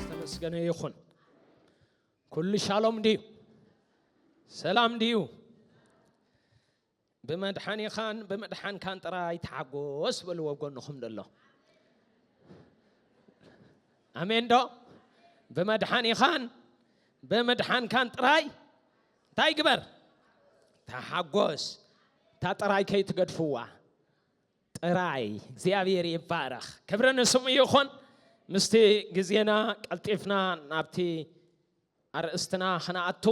ዝተመስገነ ይኹን። ኩሉ ሻሎም ድዩ? ሰላም ድዩ? ብመድሓኒኻን ብመድሓንካን ጥራይ ተሓጎስ በልዎ ጎንኹም ደሎ ኣሜን ዶ? ብመድሓኒኻን ብምድሓንካን ጥራይ እንታይ ግበር ተሓጎስ እታ ጥራይ ከይትገድፍዋ ጥራይ እግዚኣብሔር ይባረኽ ክብሪ ንስሙ ይኹን ምስቲ ግዜና ቀልጢፍና ናብቲ ኣርእስትና ክነኣቱ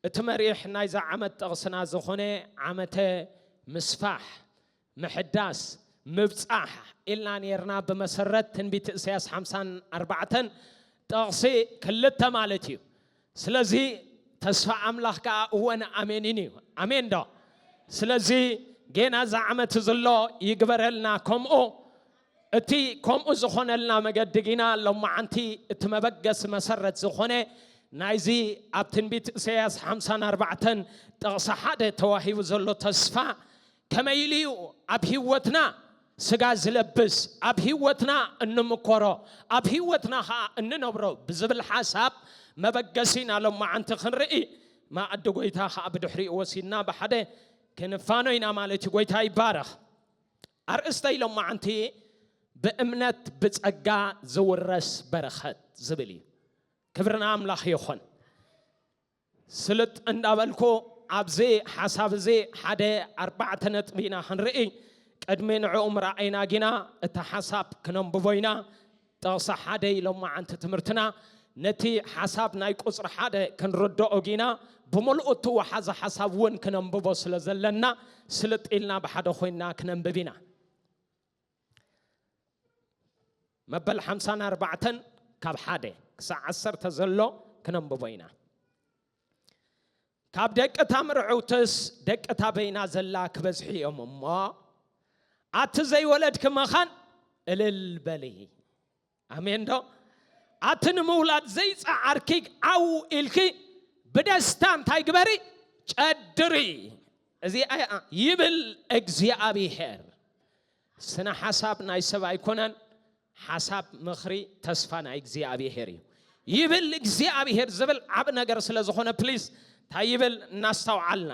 እቲ መሪሕ ናይዛ ዓመት ጥቕስና ዝኾነ ዓመተ ምስፋሕ ምሕዳስ፣ ምብጻሕ፣ ኢልና ኔርና ብመሰረት ትንቢት እሰያስ ሓምሳን ኣርባዕተን ጥቕሲ ክልተ ማለት እዩ። ስለዚ ተስፋ ኣምላኽ ከኣ እወን ኣሜንን እዩ። ኣሜን ዶ? ስለዚ ጌና እዛ ዓመት ዝሎ ይግበረልና ከምኡ። እቲ ከምኡ ዝኾነልና መገዲ ጊና ሎማዓንቲ እቲ መበገሲ መሰረት ዝኾነ ናይዚ ኣብ ትንቢት እሰያስ ሓምሳን ኣርባዕተን ጥቕሲ ሓደ ተዋሂቡ ዘሎ ተስፋ ከመይ ኢሉ እዩ ኣብ ህይወትና ስጋ ዝለብስ፣ ኣብ ህይወትና እንምኮሮ፣ ኣብ ህይወትና ኸኣ እንነብሮ ብዝብል ሓሳብ መበገሲ ኢና ሎማዓንቲ ክንርኢ። መኣዲ ጐይታ ኸኣ ብድሕሪኡ ወሲድና ብሓደ ክንፋኖ ኢና ማለት እዩ። ጐይታ ይባረኽ። ኣርእስተይ ሎማዓንቲ ብእምነት ብጸጋ ዝውረስ በረኸት ዝብል እዩ። ክብሪ ንኣምላኽ ይኹን። ስልጥ እንዳበልኩ ኣብዚ ሓሳብ እዚ ሓደ ኣርባዕተ ነጥቢ ኢና ክንርኢ። ቅድሚ ንዕኡ ምርኣይና ግና እቲ ሓሳብ ክነንብቦ ኢና። ጥቕሲ ሓደ ሎማዓንቲ ትምህርትና ነቲ ሓሳብ ናይ ቁጽሪ ሓደ ክንርድኦ ግና ብምልኡ እትወሓዘ ሓሳብ እውን ክነንብቦ ስለ ዘለና ስልጥ ኢልና ብሓደ ኮይንና ክነንብብ ኢና። መበል ሓምሳን ኣርባዕተን ካብ ሓደ ክሳዕ ዓሰርተ ዘሎ ክነንብቦ ኢና ካብ ደቂ እታ ምርዕውትስ ደቂ እታ በይና ዘላ ክበዝሒ እዮም እሞ ኣቲ ዘይወለድኪ መኻን እልል በሊ ኣሜን ዶ ኣቲ ንምውላድ ዘይጸዓርኪ ዓው ኢልኪ ብደስታ እንታይ ግበሪ ጨድሪ እዚኣ ይብል እግዚኣብሄር ስነ ሓሳብ ናይ ሰብ ኣይኮነን ሓሳብ ምኽሪ ተስፋ ናይ እግዚኣብሄር እዩ ይብል እግዚኣብሄር ዝብል ዓብ ነገር ስለ ዝኾነ ፕሊዝ እንታይ ይብል እናስተውዓልና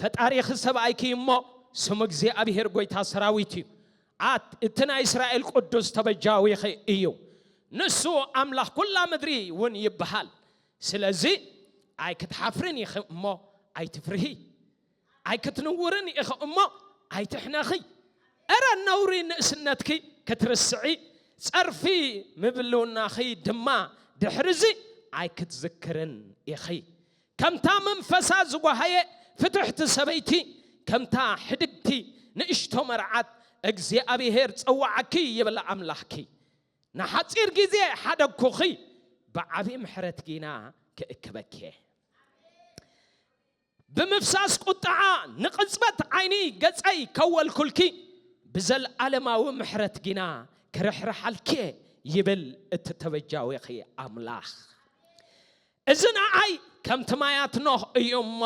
ፈጣሪኺ ሰብኣይኪ እዩ እሞ ስሙ እግዚኣብሄር ጐይታ ሰራዊት እዩ፣ ኣት እቲ ናይ እስራኤል ቅዱስ ተበጃዊኺ እዩ፣ ንሱ ኣምላኽ ኵላ ምድሪ እውን ይብሃል። ስለዚ ኣይክትሓፍርን ኢኺ እሞ ኣይትፍርሂ፣ ኣይክትንውርን ኢኺ እሞ ኣይትሕነኺ። እረ ነውሪ ንእስነትኪ ክትርስዒ፣ ጸርፊ ምብልውናኺ ድማ ድሕርዚ ኣይክትዝክርን ኢኺ። ከምታ መንፈሳ ዝጐሃየ ፍትሕቲ ሰበይቲ፣ ከምታ ሕድግቲ ንእሽቶ መርዓት፣ እግዚኣብሄር ጸውዓኪ ይብል ኣምላኽኪ። ንሓጺር ግዜ ሓደግኩኺ፣ ብዓብዪ ምሕረት ግና ክእክበኪ እየ። ብምፍሳስ ቍጥዓ ንቕጽበት ዓይኒ ገጸይ ከወልኩልኪ፣ ብዘለኣለማዊ ምሕረት ግና ክርሕርሓልኪ እየ ይብል እቲ ተበጃዊኺ ኣምላኽ። እዚ ንዓይ ከምቲ ማያት ኖህ እዩ እሞ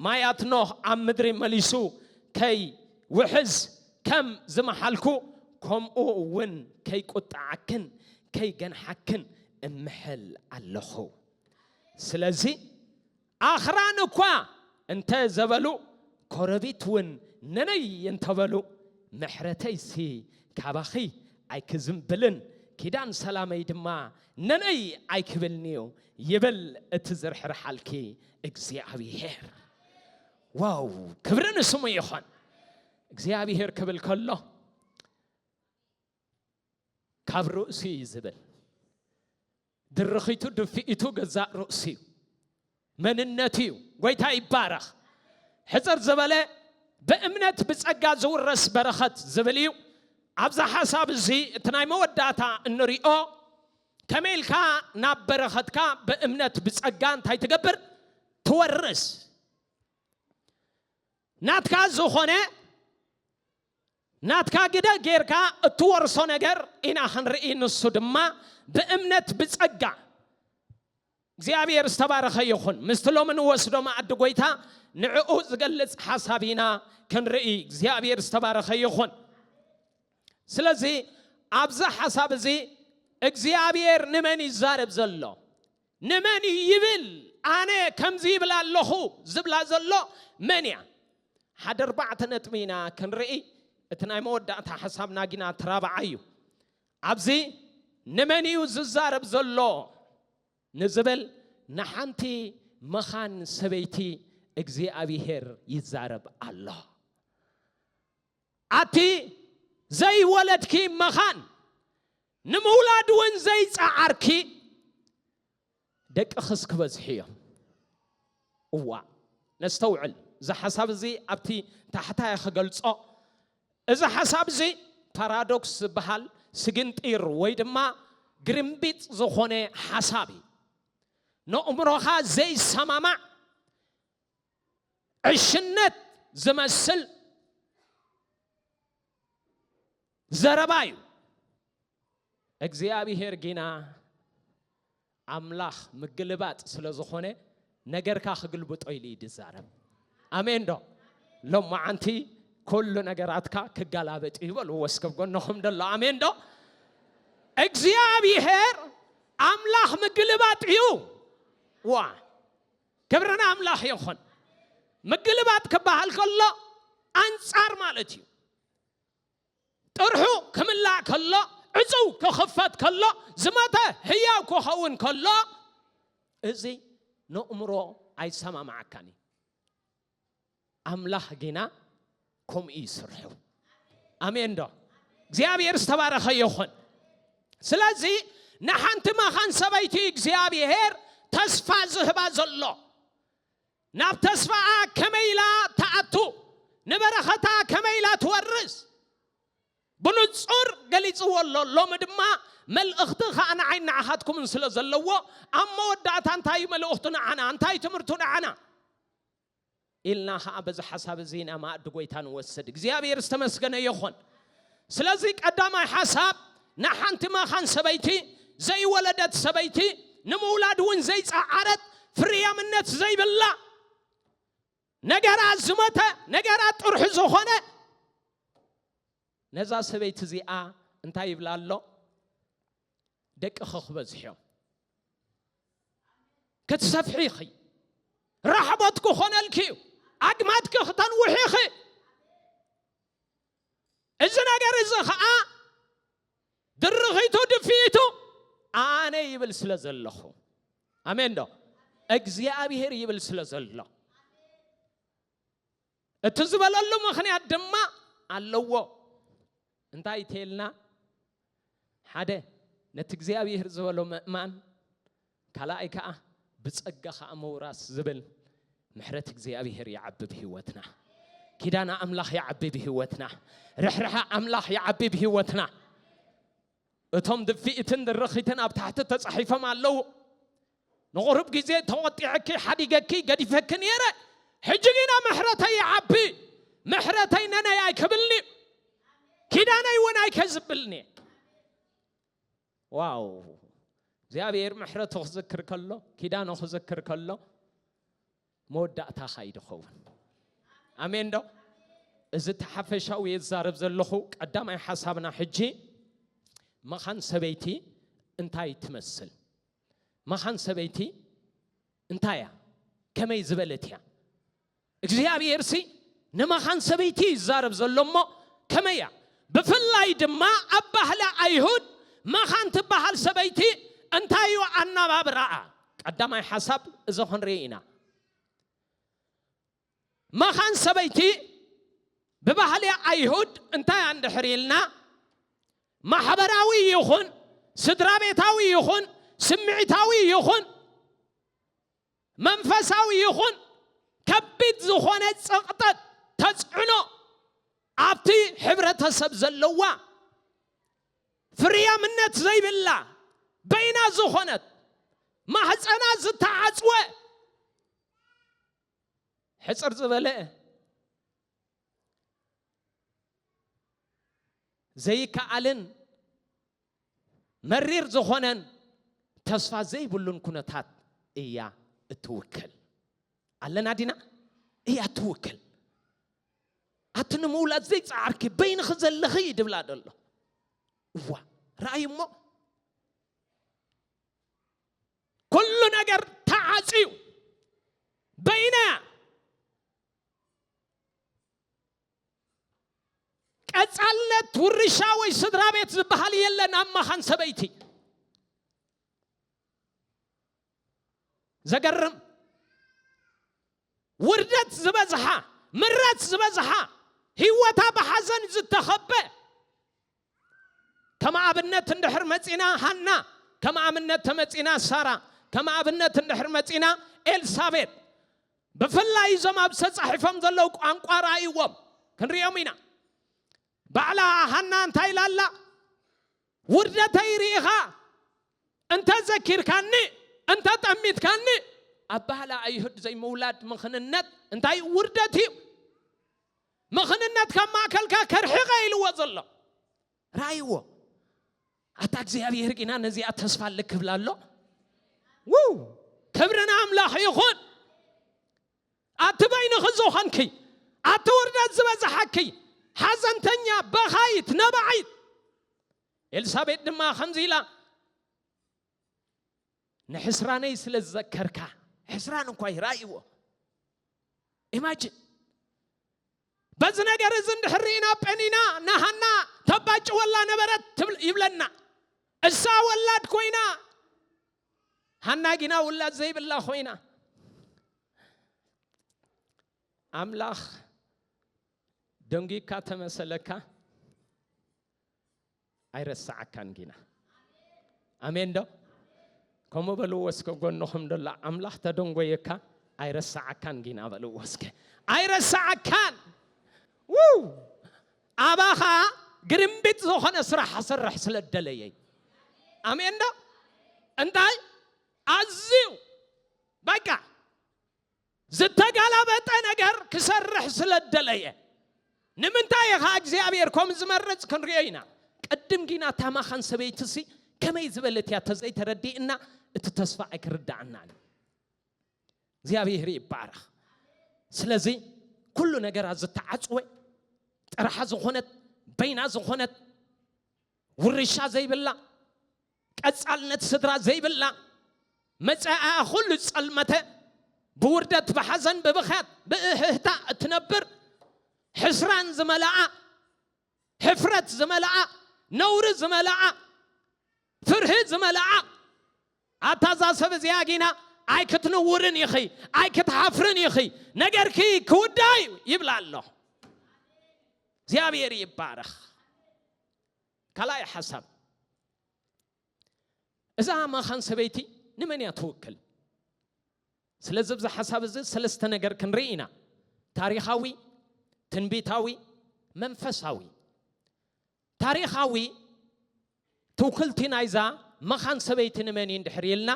ማያት ኖህ ኣብ ምድሪ መሊሱ ከይውሕዝ ከም ዝመሓልኩ ከምኡ እውን ከይቁጠዓክን ከይገንሓክን እምሕል ኣለኹ። ስለዚ ኣኽራን እኳ እንተ ዘበሉ ጐረቢትውን ነነይ እንተ በሉ፣ ምሕረተይሲ ካባኺ ኣይኪዝንብልን፣ ኪዳን ሰላመይ ድማ ነነይ ኣይኪብልን እዩ፣ ይብል እቲ ዝርሕርሓልኪ እግዚኣብሄር። ዋው! ክብሪ ንስሙ ይኹን። እግዚኣብሄር ክብል ከሎ ካብ ርእሱ እዩ ዝብል። ድርኺቱ ድፍኢቱ ገዛእ ርእሱ እዩ መንነቱ እዩ ጎይታ ይባረኽ ሕፅር ዝበለ ብእምነት ብፀጋ ዝውረስ በረኸት ዝብል እዩ ኣብዛ ሓሳብ እዚ እቲ ናይ መወዳእታ እንሪኦ ከመይ ኢልካ ናብ በረኸትካ ብእምነት ብፀጋ እንታይ ትገብር ትወርስ ናትካ ዝኾነ ናትካ ግደ ጌርካ እትወርሶ ነገር ኢና ክንርኢ ንሱ ድማ ብእምነት ብጸጋ እግዚኣብሔር ዝተባረኸ ይኹን ምስቲ ሎሚ ንወስዶ መኣዲ ጎይታ ንዕኡ ዝገልጽ ሓሳብ ኢና ክንርኢ እግዚኣብሔር ዝተባረኸ ይኹን ስለዚ ኣብዚ ሓሳብ እዚ እግዚኣብሔር ንመን ይዛረብ ዘሎ ንመን እዩ ይብል ኣነ ከምዚ ይብል ኣለኹ ዝብላ ዘሎ መን እያ ሓደ ኣርባዕተ ነጥቢ ኢና ክንርኢ እቲ ናይ መወዳእታ ሓሳብና ጊና ትራብዓ እዩ ኣብዚ ንመን እዩ ዝዛረብ ዘሎ ንዝብል ንሓንቲ መኻን ሰበይቲ እግዚኣብሄር ይዛረብ ኣሎ ኣቲ ዘይወለድኪ መኻን ንምውላድ እውን ዘይጸዓርኪ ደቅኽስ ክበዝሑ እዮም። እዋእ ነስተውዕል፣ እዚ ሓሳብ እዚ ኣብቲ ታሕታይ ክገልጾ፣ እዚ ሓሳብ እዚ ፓራዶክስ ዝበሃል ስግንጢር ወይ ድማ ግርምቢጥ ዝኾነ ሓሳብ እዩ። ነእምሮኻ ዘይሰማማዕ ዕሽነት ዝመስል፣ ዘረባ እዩ እግዚኣብሄር ጊና ኣምላኽ ምግልባጥ ስለ ዝኾነ ነገርካ ክግልብጦ ኢሉ እዩ ዝዛረብ ኣሜን ዶ ሎማዓንቲ ኩሉ ነገራትካ ክጋላበጥ እዩ በሉ ወስከብ ጎነኹም ደሎ ኣሜን ዶ እግዚኣብሔር ኣምላኽ ምግልባጥ እዩ ዋ ክብርን ኣምላኽ ይኹን ምግልባጥ ክበሃል ከሎ ኣንጻር ማለት እዩ ጥርሑ ክምላእ ከሎ፣ ዕጽው ክኽፈት ከሎ፣ ዝመተ ህያው ክኸውን ከሎ፣ እዚ ነእምሮ ኣይሰማማዓካን እዩ። ኣምላኽ ግና ከምኡ እዩ ስርሑ። ኣሜን ዶ? እግዚኣብሔር ዝተባረኸ ይኹን። ስለዚ ንሓንቲ መኻን ሰበይቲ እግዚኣብሔር ተስፋ ዝህባ ዘሎ ናብ ተስፋኣ ከመይ ኢላ ትኣቱ፣ ንበረኸታ ከመይ ኢላ ትወርስ ብንጹር ገሊጽዎ ኣሎ። ሎሚ ድማ መልእኽቲ ከኣ ንዓይን ንዓኻትኩምን ስለ ዘለዎ ኣብ መወዳእታ እንታይ እዩ መልእኽቱ ንዓና፣ እንታይ እዩ ትምህርቱ ንዓና ኢልና ከኣ በዚ ሓሳብ እዚ ኢና መኣዲ ጎይታ ንወስድ። እግዚኣብሔር ዝተመስገነ ይኹን። ስለዚ ቀዳማይ ሓሳብ ንሓንቲ መኻን ሰበይቲ፣ ዘይወለደት ሰበይቲ፣ ንምውላድ እውን ዘይጸዓረት፣ ፍርያምነት ዘይብላ፣ ነገራ ዝሞተ፣ ነገራ ጥርሑ ዝኾነ ነዛ ሰበይቲ እዚኣ እንታይ ይብላ ኣሎ? ደቅኺ ክበዝሕዮም ክትሰፍሒ ኢኺ ራሕቦት ክኾነልኪ እዩ ኣግማትኪ ክተንውሒ ኢኺ እዚ ነገር እዚ ኸዓ ድርኺቱ ድፍኢቱ ኣነ ይብል ስለ ዘለኹ ኣሜን ዶ እግዚኣብሄር ይብል ስለ ዘሎ እቲ ዝበለሉ ምኽንያት ድማ ኣለዎ እንታይ ተልና ሓደ ነቲ እግዚኣብሄር ዝበሎ ምእማን ካልኣይ ከኣ ብጸጋ ከኣ ምውራስ ዝብል ምሕረት እግዚኣብሄር ይዓቢ ብህይወትና ኪዳና ኣምላኽ ይዓቢ ብህይወትና ርሕርሐ ኣምላኽ ይዓቢ ብህይወትና እቶም ድፍኢትን ድርኺትን ኣብ ታሕቲ ተጻሒፎም ኣለዉ ንቑሩብ ግዜ ተቖጢዐኪ ሓዲገኪ ገዲፈኪ ኔረ ሕጂ ግና ምሕረተይ ይዓቢ ምሕረተይ ነነይ ኣይክብልኒ ኪዳነይ እውን ኣይከዝብልኒ ዋው እግዚኣብሔር ምሕረቱ ክዝክር ከሎ ኪዳኑ ክዝክር ከሎ መወዳእታ ካይድ ኸውን ኣሜን ዶ እዚ ተሓፈሻዊ የዛረብ ዘለኹ ቀዳማይ ሓሳብና ሕጂ መኻን ሰበይቲ እንታይ ትመስል መኻን ሰበይቲ እንታይ እያ? ከመይ ዝበለት እያ? እግዚኣብሔርሲ ንመኻን ሰበይቲ እዩ ዝዛረብ ዘሎ እሞ ከመይ እያ? ብፍላይ ድማ ኣብ ባህሊ ኣይሁድ መኻን ትበሃል ሰበይቲ እንታይ እዩ ኣናባብራኣ? ቀዳማይ ሓሳብ እዚ ክንርኢ ኢና። መኻን ሰበይቲ ብባህሊ ኣይሁድ እንታይ እያ እንድሕር ኢልና ማሕበራዊ ይኹን ስድራቤታዊ ይኹን ስምዒታዊ ይኹን መንፈሳዊ ይኹን ከቢድ ዝኾነ ጸቕጠት ተጽዕኖ ኣብቲ ሕብረተሰብ ዘለዋ ፍርያምነት ዘይብላ በይና ዝኾነት ማህፀና ዝተዓፅወ ሕፅር ዝበለ ዘይከኣልን መሪር ዝኾነን ተስፋ ዘይብሉን ኩነታት እያ እትውክል ኣለና ዲና እያ እትውክል ኣቲ ንምውላድ ዘይፀዓርኪ በይንኺ ዘለኺ ድብላ ደሎ እዋ ረኣይ እሞ ኩሉ ነገር ተዓጽዩ በይና ቀጻልነት ውርሻ ወይ ስድራ ቤት ዝበሃል የለን ኣብ መኻን ሰበይቲ ዘገርም ውርደት ዝበዝሓ ምረት ዝበዝሓ ህይወታ ብሓዘን ዝተኸበ ከም ኣብነት እንድሕር መጺና ሃና፣ ከም ኣብነት ተመጺና ሳራ፣ ከም ኣብነት እንድሕር መጺና ኤልሳቤጥ፣ ብፍላይ እዞም ኣብዚ ተጻሒፎም ዘለዉ ቋንቋ ርኣይዎም፣ ክንርእዮም ኢና። ባዕላ ሃና እንታይ ኢላ ኣላ? ውርደተይ ርኢኻ እንተ ዘኪርካኒ፣ እንተ ጠሚትካኒ፣ ኣባህላ ኣይሁድ ዘይምውላድ ምኽንነት እንታይ እዩ? ውርደት እዩ። ምኽንነት ካብ ማእከልካ ከርሕቐ ኢልዎ ዘሎ ረኣይዎ ኣታ እግዚኣብሄር ግና ነዚኣ ተስፋ ኣለ ክብላ ኣሎ ውው ክብሪ ንኣምላኽ ይኹን ኣቲ በይንኺ ዝኾንኪ ኣቲ ውርደት ዝበዝሓኪ ሓዘንተኛ በኻይት ነባዒት ኤልሳቤጥ ድማ ከምዚ ኢላ ንሕስራነይ ስለ ዝዘከርካ ሕስራን እንኳ ይራእይዎ ኢማጅን በዚ ነገር እዚ እንድሕር ርኢና ጴኒና ናሃና ተባጭወላ ነበረት ትብል- ይብለና እሳ ወላድ ኮይና ሃና ጊና ውላድ ዘይብላ ኮይና ኣምላኽ ደንጒካ ተመሰለካ ኣይረሳዓካን ጊና ኣሜን ዶ ከምኡ በልዎ እስከ ጎንኹም ደሎ ኣምላኽ ተደንጎየካ ኣይረሳዓካን ጊና በልዎ እስከ ኣይረሳዓካን ውው ኣባኻ ግርምቢጥ ዝኾነ ስራሕ ኣሰርሕ ስለ ደለየይ ኣሜን ዶ እንታይ ኣዝዩ በቃ ዝተጋላበጠ ነገር ክሰርሕ ስለ እደለየ። ንምንታይ ኢኻ እግዚኣብሔር ከምኡ ዝመርጽ ክንሪኦ ኢና። ቅድም ጊና እታ መኻን ሰበይቲሲ ከመይ ዝበለት እያ ተዘይተረዲእና እቲ ተስፋ ኣይክርዳኣናን እዩ። እግዚኣብሔር ይባረኽ። ስለዚ ኩሉ ነገራ ዝተዓጽወ ጥራሓ ዝኾነት በይና ዝኾነት ውርሻ ዘይብላ ቀጻልነት ስድራ ዘይብላ፣ መጻኢኣ ኩሉ ዝጸልመተ፣ ብውርደት፣ ብሓዘን፣ ብብኽያት፣ ብእህህታ እትነብር፣ ሕስራን ዝመልኣ፣ ሕፍረት ዝመልኣ፣ ነውሪ ዝመልኣ፣ ፍርሂ ዝመልኣ፣ ኣታ እዛ ሰብ እዚኣ ጊና ኣይክትንውርን ኢኺ፣ ኣይክትሓፍርን ኢኺ፣ ነገርኪ ክውዳእ እዩ ይብላ ኣሎ። እግዚኣብሔር ይባረኽ። ካልኣይ ሓሳብ እዛ ማኻን ሰበይቲ ንመን እያ ትውክል? ስለዚ ኣብዚ ሓሳብ እዚ ሰለስተ ነገር ክንርኢ ኢና፣ ታሪኻዊ፣ ትንቢታዊ፣ መንፈሳዊ። ታሪኻዊ ትውክልቲ ናይዛ መኻን ሰበይቲ ንመን እዩ እንድሕር ኢልና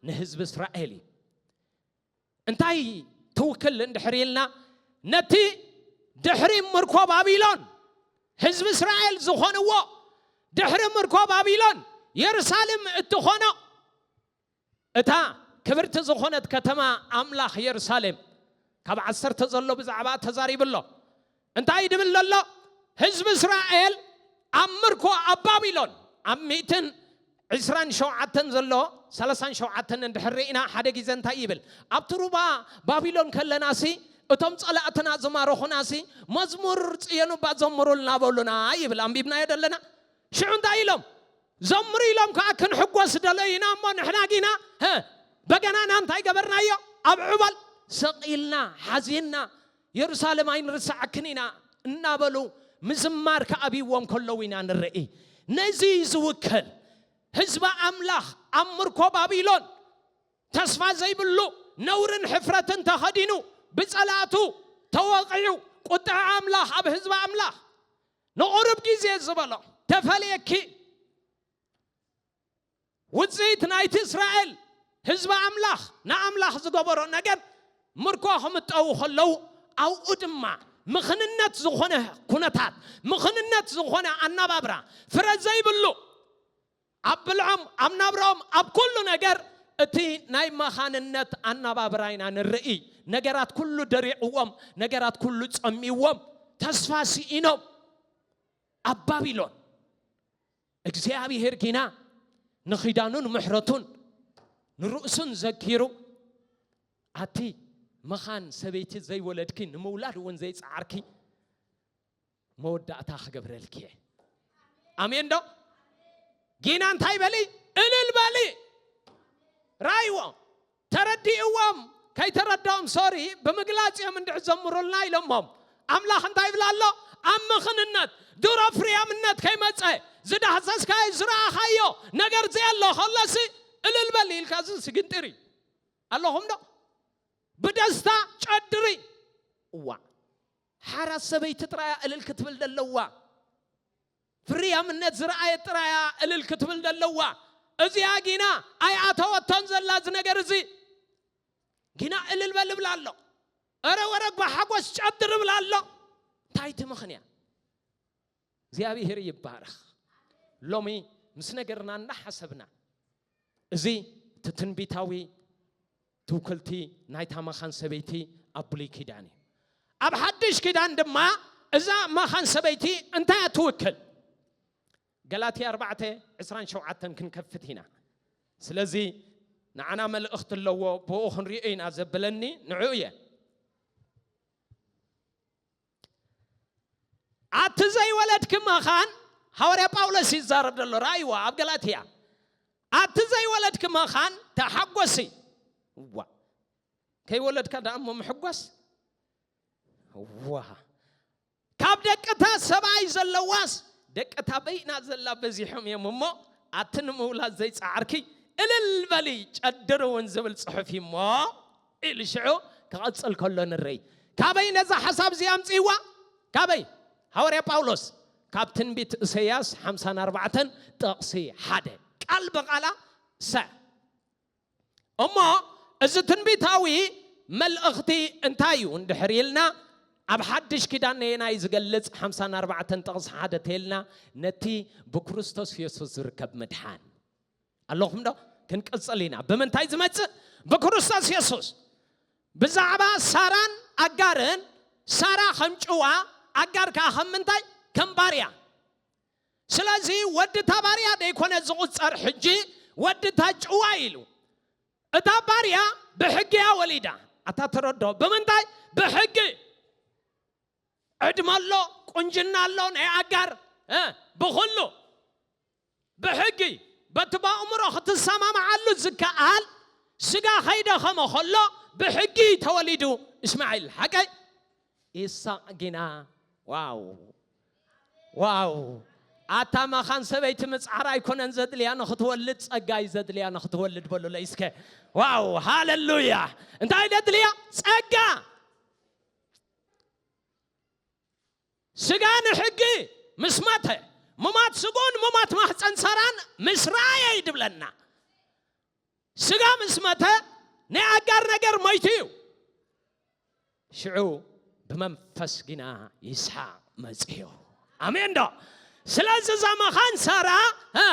ንህዝቢ እስራኤል እዩ። እንታይ ትውክል እንድሕር ኢልና ነቲ ድሕሪ ምርኮ ባቢሎን ህዝቢ እስራኤል ዝኾንዎ ድሕሪ ምርኮ ባቢሎን የሩሳሌም እትኾኖ እታ ክብርቲ ዝኾነት ከተማ ኣምላኽ የሩሳሌም ካብ ዓሰርተ ዘሎ ብዛዕባ ተዛሪቡ ኣሎ እንታይ ድብል ዘሎ ህዝቢ እስራኤል ኣብ ምርኮ ኣብ ባቢሎን ኣብ ሚእትን ዕስራን ሸውዓተን ዘሎ ሰላሳን ሸውዓተን እንድሕር ርኢና ሓደ ግዜ እንታይ ይብል ኣብቲ ሩባ ባቢሎን ከለናሲ እቶም ጸላእትና ዝማረኹናሲ መዝሙር ጽዮን እባ ዘምሩልና በሉና ይብል ኣንቢብናዮ ደለና ሽዑ እንታይ ኢሎም ዘምሩ ኢሎም ከዓ ክንሕጎስ ደለዩና እሞ ንሕና ጊና በገናና እንታይ ገበርናዮ ኣብ ዕበል ሰቂልና ሓዚንና የሩሳሌም ኣይንርስዓክን ኢና እናበሉ ምዝማር ክኣብይዎም ከለዉ ኢና ንርኢ። ነዚ እዩ ዝውክል። ህዝቢ ኣምላኽ ኣብ ምርኮ ባቢሎን ተስፋ ዘይብሉ ነውርን ሕፍረትን ተኸዲኑ ብጸላእቱ ተወቒዑ ቁጥዐ ኣምላኽ ኣብ ህዝቢ ኣምላኽ ንቑሩብ ግዜ ዝበሎ ተፈልየኪ ውጽኢት ናይቲ እስራኤል ህዝቢ ኣምላኽ ንኣምላኽ ዝገበሮ ነገር ምርኮ ክምጠዉ ከለዉ ኣብኡ ድማ ምኽንነት ዝኾነ ኩነታት ምኽንነት ዝኾነ ኣናባብራ ፍረ ዘይብሉ ኣብ ብልዖም ኣብ ናብራኦም ኣብ ኩሉ ነገር እቲ ናይ መኻንነት ኣናባብራ ኢና ንርእይ ነገራት ኩሉ ደሪዕዎም ነገራት ኩሉ ጸሚዎም ተስፋ ስኢኖም ኣብ ባቢሎን እግዚኣብሄር ግና ንኺዳኑን ምሕረቱን ንርእሱን ዘኪሩ ኣቲ መኻን ሰበይቲ ዘይወለድኪ ንምውላድ እውን ዘይፀዓርኪ መወዳእታ ክገብረልኪ እየ ኣሜን ዶ ጊና እንታይ በሊ እልል በሊ ራይዎ ተረዲእዎም ከይተረድኦም ሶሪ ብምግላጽ እዮም እንድዒ ዘምሩልና ኢሎሞም ኣምላኽ እንታይ ይብል ኣሎ ኣብ ምኽንነት ድሮ ፍርያምነት ከይመጸ ዝዳህሰስካዮ ዝረኣኻዮ ነገር ዘየሎ ከሎሲ እልል በል ኢልካ እዚ ስግንጢር እዩ ኣለኹም ዶ ብደስታ ጨድሪ እዋ ሓራ ሰበይቲ ጥራያ እልል ክትብል ደለዋ ፍርያምነት ዝረኣየት ጥራይ እያ እልል ክትብል ዘለዋ እዚኣ ጊና ኣይኣተወቶን ዘላ እዚ ነገር እዚ ጊና እልል በል እብላ ኣሎ እረ ወረ ብሓጎስ ጨድር እብላ ኣሎ እንታይ እቲ ምኽንያት እግዚኣብሔር ይባረኽ ሎሚ ምስ ነገርና እናሓሰብና እዚ እቲ ትንቢታዊ ትውክልቲ ናይታ መኻን ሰበይቲ ኣብ ብሉይ ኪዳን እዩ። ኣብ ሓድሽ ኪዳን ድማ እዛ መኻን ሰበይቲ እንታይ እያ ትውክል? ገላትያ ኣርባዕተ ዕስራን ሸውዓተን ክንከፍት ኢና። ስለዚ ንዓና መልእኽቲ ኣለዎ፣ ብኡ ክንሪኦ ኢና ዘብለኒ ንዕኡ እየ። ኣቲ ዘይወለድኪ መኻን ሃዋርያ ጳውሎስ እዩ ዝዛረብ ዘሎ ረኣይዎ ኣብ ገላትያ ኣቲ ዘይወለድኪ መኻን ተሓጎሲ ዋ ከይወለድካ ደኣ እሞ ምሕጓስ ዋ ካብ ደቅታ ሰብኣይ ዘለዋስ ደቅታ በይና ዘላ በዚሖም እዮም እሞ ኣቲ ንምውላድ ዘይፀዓርኪ እልል በሊ ጨድር እውን ዝብል ፅሑፍ እዩ እሞ ኢሉ ሽዑ ክቐጽል ከሎ ንርይ። ካበይ ነዛ ሓሳብ እዚኣ ኣምጺእዋ? ካበይ? ሃዋርያ ጳውሎስ ካብ ትንቢት እሰያስ ሓምሳን ኣርባዕተን ጥቕሲ ሓደ ቃል ብቓላ ሰ እሞ እዚ ትንቢታዊ መልእኽቲ እንታይ እዩ እንድሕር ኢልና ኣብ ሓድሽ ኪዳን ነየናይ ዝገልጽ ሓምሳን ኣርባዕተን ጥቕሲ ሓደ ተይልና ነቲ ብክርስቶስ የሱስ ዝርከብ ምድሓን ኣለኹም ዶ ክንቅጽል ኢና ብምንታይ ዝመጽእ ብክርስቶስ የሱስ ብዛዕባ ሳራን ኣጋርን ሳራ ከም ጭዋ ኣጋር ከዓ ከም ምንታይ ከም ባርያ ስለዚ ወዲ እታ ባርያ ደይኮነ ዝቑፀር ሕጂ ወዲ እታ ጭዋ ኢሉ እታ ባርያ ብሕጊ እያ ወሊዳ ኣታ ተረድኦ ብምንታይ ብሕጊ ዕድመ ኣሎ ቁንጅና ኣሎ ናይ ኣጋር እ፣ ብኹሉ ብሕጊ በቲ በእምሮ ክትሰማምዓሉ ዝከኣል ስጋ ከይደኸመ ከሎ ብሕጊ እዩ ተወሊዱ እስማዒል ሓቀይ ኢሳቕ ግና ዋው ዋው ኣታ መኻን ሰበይቲ ምፅዓር ኣይኮነን ዘድልያ ንክትወልድ ፀጋ እዩ ዘድልያ ንክትወልድ በሉለይ እስከ ዋው ሃለሉያ እንታይ ደድልያ ፀጋ ስጋ ንሕጊ ምስ መተ፣ ሙማት ስግኡን ሙማት ማህጸን ሳራን ምስ ረኣየ እዩ ድብለና። ስጋ ምስ መተ ናይ ኣጋር ነገር ሞይቱ እዩ። ሽዑ ብመንፈስ ግና ይስሓቅ መጽዮ። ኣሜን ዶ? ስለዚ እዛ መኻን ሳራ እ፣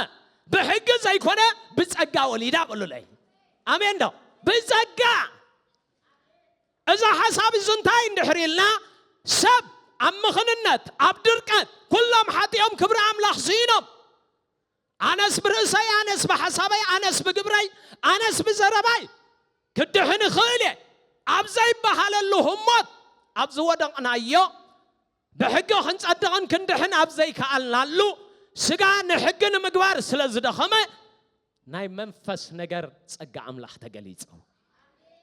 ብሕጊ ዘይኮነ ብጸጋ ወሊዳ ቁሉለይ። ኣሜን ዶ? ብጸጋ እዛ ሓሳብ እዚ እንታይ እንድሕሪ ኢልና ሰብ ኣብ ምኽንነት ኣብ ድርቀት ኩሎም ሓጢኦም ክብሪ ኣምላኽ ስኢኖም ኣነስ ብርእሰይ ኣነስ ብሓሳበይ ኣነስ ብግብረይ ኣነስ ብዘረባይ ክድሕን እኽእል እየ ኣብ ዘይበሃለሉ ህሞት ኣብ ዝወደቕናዮ ብሕጊ ክንጸድቕን ክንድሕን ኣብ ዘይከኣልናሉ፣ ስጋ ንሕጊ ንምግባር ስለ ዝደኸመ፣ ናይ መንፈስ ነገር ጸጋ ኣምላኽ ተገሊጹ።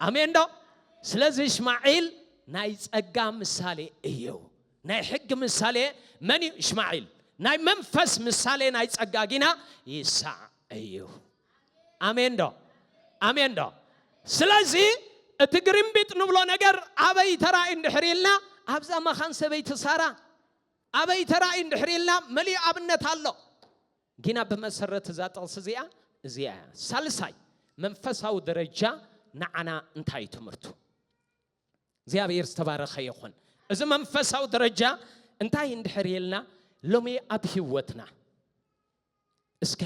ኣሜንዶ? ስለዚ እሽማዒል ናይ ጸጋ ምሳሌ እዩ። ናይ ሕጊ ምሳሌ መን እዩ? እሽማዒል። ናይ መንፈስ ምሳሌ ናይ ጸጋ ጊና ይሳዕ እዩ። ኣሜን ዶ ኣሜን ዶ ስለዚ እቲ ግሪምቢጥ ንብሎ ነገር ኣበይ ተራእዩ እንድሕር ኢልና ኣብዛ መኻን ሰበይቲ ሳራ ኣበይ ተራእዩ እንድሕር ኢልና መሊኡ ኣብነት ኣሎ ጊና ብመሰረት እዛ ጥቕሲ እዚኣ እዚኣ እያ ሳልሳይ መንፈሳዊ ደረጃ ንዓና እንታይ ትምህርቱ እግዚኣብሔር ዝተባረኸ ይኹን እዚ መንፈሳዊ ደረጃ እንታይ እንድሕር ኢልና ሎሚ ኣብ ህይወትና እስከ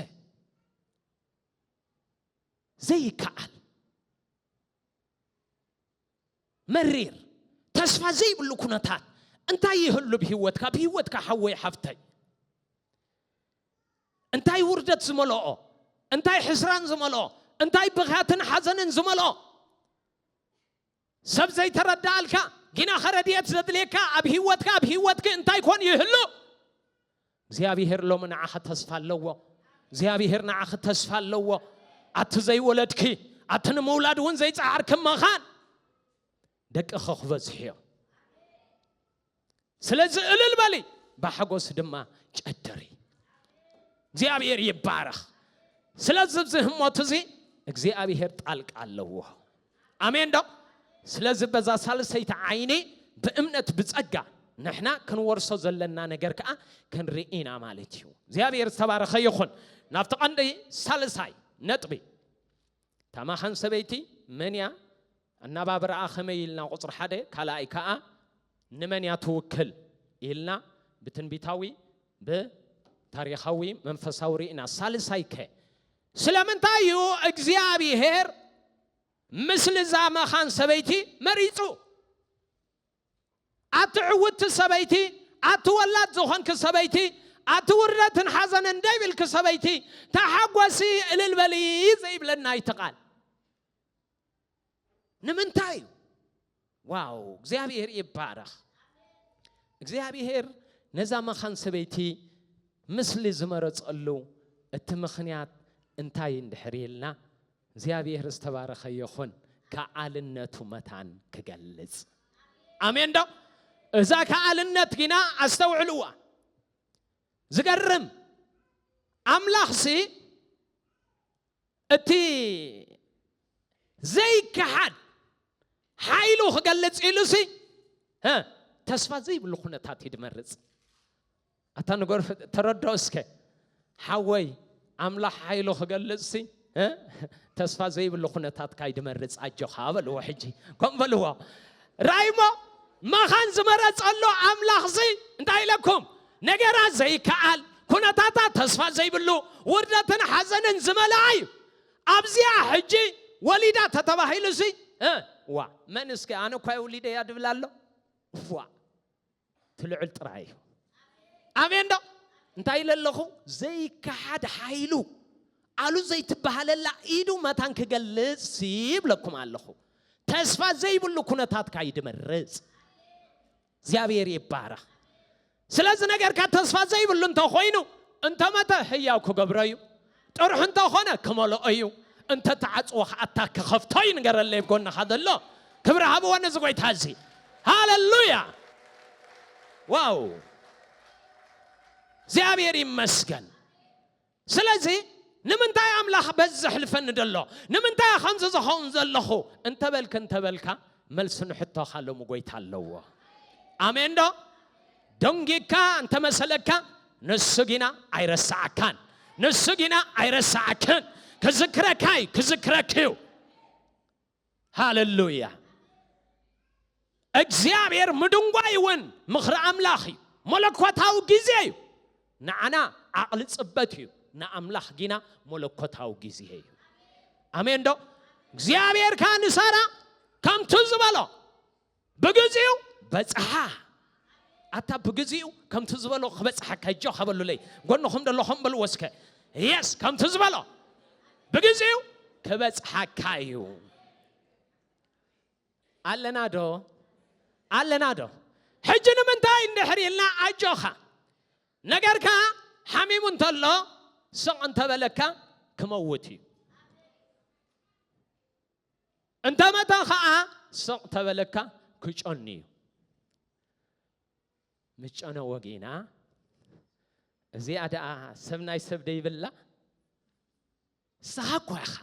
ዘይከኣል መሪር ተስፋ ዘይብሉ ኩነታት እንታይ ይህሉ ብሂወትካ ብሂወትካ ሓወይ ሓፍተይ እንታይ ውርደት ዝመልኦ እንታይ ሕስራን ዝመልኦ እንታይ ብኽያትን ሓዘንን ዝመልኦ ሰብ ዘይተረዳኣልካ ጊናኸ ረድኤት ዘድልየካ ኣብ ህይወትካ ኣብ ህይወትኪ እንታይ ኮን ይህሉ እግዚኣብሄር ሎሚ ንዓኻ ተስፋ ኣለዎ እግዚኣብሄር ንዓኺ ተስፋ ኣለዎ ኣቲ ዘይወለድኪ ኣቲ ንምውላድ እውን ዘይፀዓርኪ መኻን ደቅኺ ክበዝሑ እዮም ስለዚ እልል በሊ ብሓጎስ ድማ ጨድሪ እግዚኣብሔር ይባረኽ ስለዚ እዚ ህሞት እዚ እግዚኣብሔር ጣልቃ ኣለዎ ኣሜን ዶ ስለዚ በዛ ሳልሰይቲ ዓይኒ ብእምነት ብጸጋ ንሕና ክንወርሶ ዘለና ነገር ከዓ ክንርኢና ማለት እዩ እግዚኣብሔር ዝተባረኸ ይኹን ናብቲ ቀንዲ ሳልሳይ ነጥቢ እታ ማኻን ሰበይቲ መን እያ? ኣነባብራኣ ከመይ ኢልና ቁጽሪ ሓደ ካልኣይ ከኣ ንመን እያ ትውክል ኢልና ብትንቢታዊ ብታሪኻዊ መንፈሳዊ ርኢና ሳልሳይ ከ ስለምንታይ እዩ እግዚኣብሄር ምስሊ እዛ መኻን ሰበይቲ መሪጹ? ኣቲ ዕውትቲ ሰበይቲ፣ ኣቲ ወላድ ዝኾንኪ ሰበይቲ፣ ኣቲ ውርደትን ሓዘንን ደይብልኪ ሰበይቲ፣ ተሓጎሲ እልል በሊ ዘይብለና እዩ እቲ ቃል። ንምንታይ እዩ? ዋው እግዚኣብሔር ይባረኽ። እግዚኣብሔር ነዛ መኻን ሰበይቲ ምስሊ ዝመረጸሉ እቲ ምኽንያት እንታይ እንድሕር ኢልና እግዚኣብሔር ዝተባረኸ ይኹን ከኣልነቱ መታን ክገልጽ ኣሜን ዶ እዛ ከኣልነት ግና ኣስተውዕልዋ ዝገርም ኣምላኽሲ እቲ ዘይከሓድ ሓይሉ ክገልጽ ኢሉሲ ተስፋ ዘይብሉ ኩነታት እዩ ድመርጽ ኣታ ንገርፍ ተረድኦ እስከ ሓወይ ኣምላኽ ሓይሉ ክገልጽሲ ተስፋ ዘይብሉ ኩነታት ካይ ድመርጽ ኣጆኻ በልዎ ሕጂ ከምኡ በልዎ ራይሞ መኻን ዝመረጸሉ ኣምላኽሲ እንታይ ኢለኩም ነገራ ዘይከኣል ኩነታታ ተስፋ ዘይብሉ ውርደትን ሓዘንን ዝመልኣ እዩ ኣብዚኣ ሕጂ ወሊዳ ተተባሂሉሲ ዋ መን እስከ ኣነ እኳ የውሊደ እያ ድብል ኣሎ ዋ ትልዕል ጥራይ እዩ ኣሜን ዶ እንታይ ኢለ ኣለኹ ዘይከሓድ ሓይሉ ኣሉ ዘይትበሃለላ ኢዱ መታን ክገልጽ ይብለኩም ኣለኹ ተስፋ ዘይብሉ ኩነታትካ እዩ ድመርጽ እግዚኣብሔር ይባረኽ ስለዚ ነገርካ ተስፋ ዘይብሉ እንተኾይኑ እንተመተ ህያው ክገብሮ እዩ ጥርሑ እንተኾነ ክመልኦ እዩ እንተ ተዓጽዎ ከኣ ኣታ ክኸፍቶ እዩ ንገረለይ ኣብ ጎንኻ ዘሎ ክብሪ ሃብዎ ነዚ ጎይታ እዚ ሃለሉያ ዋው እግዚኣብሔር ይመስገን ስለዚ ንምንታይ ኣምላኽ በዚ ዘሕልፈኒ ደሎ ንምንታይ ከምዚ ዝኸውን ዘለኹ እንተበልክ እንተበልካ መልሲ ንሕቶኻ ሎሚ ጎይታ ኣለዎ ኣሜን ዶ ደንጊካ እንተመሰለካ ንሱ ጊና ኣይረሳዓካን ንሱ ጊና ኣይረሳዓክን ክዝክረካ እዩ ክዝክረክ እዩ ሃለሉያ እግዚኣብሔር ምድንጓይ እውን ምኽሪ ኣምላኽ እዩ መለኮታዊ ጊዜ እዩ ንዓና ዓቕሊ ፅበት እዩ ንኣምላኽ ጊና መለኮታዊ ጊዜ እዩ ኣሜን ዶ እግዚኣብሔር ከዓ ንሳራ ከምቲ ዝበሎ ብግዚኡ በጽሓ ኣታ ብግዚኡ ከምቲ ዝበሎ ክበጽሓካ ጆካ በሉለይ ጎንኹም ደለኹም በልዎ እስከ የስ ከምቲ ዝበሎ ብግዚኡ ክበጽሓካ እዩ ኣለና ዶ ኣለና ዶ ሕጂ ንምንታይ እንድሕር ኢልና ኣጆኻ ነገርካ ሓሚሙ እንተሎ ስቕ እንተበለካ ክመውት እዩ እንተመተ ኸኣ ስቕ ተበለካ ክጨኑ እዩ። ምጨነ ወጊና እዚኣ ደኣ ሰብ ናይ ሰብ ደይብላ ንስኻ እኳ ኢኻ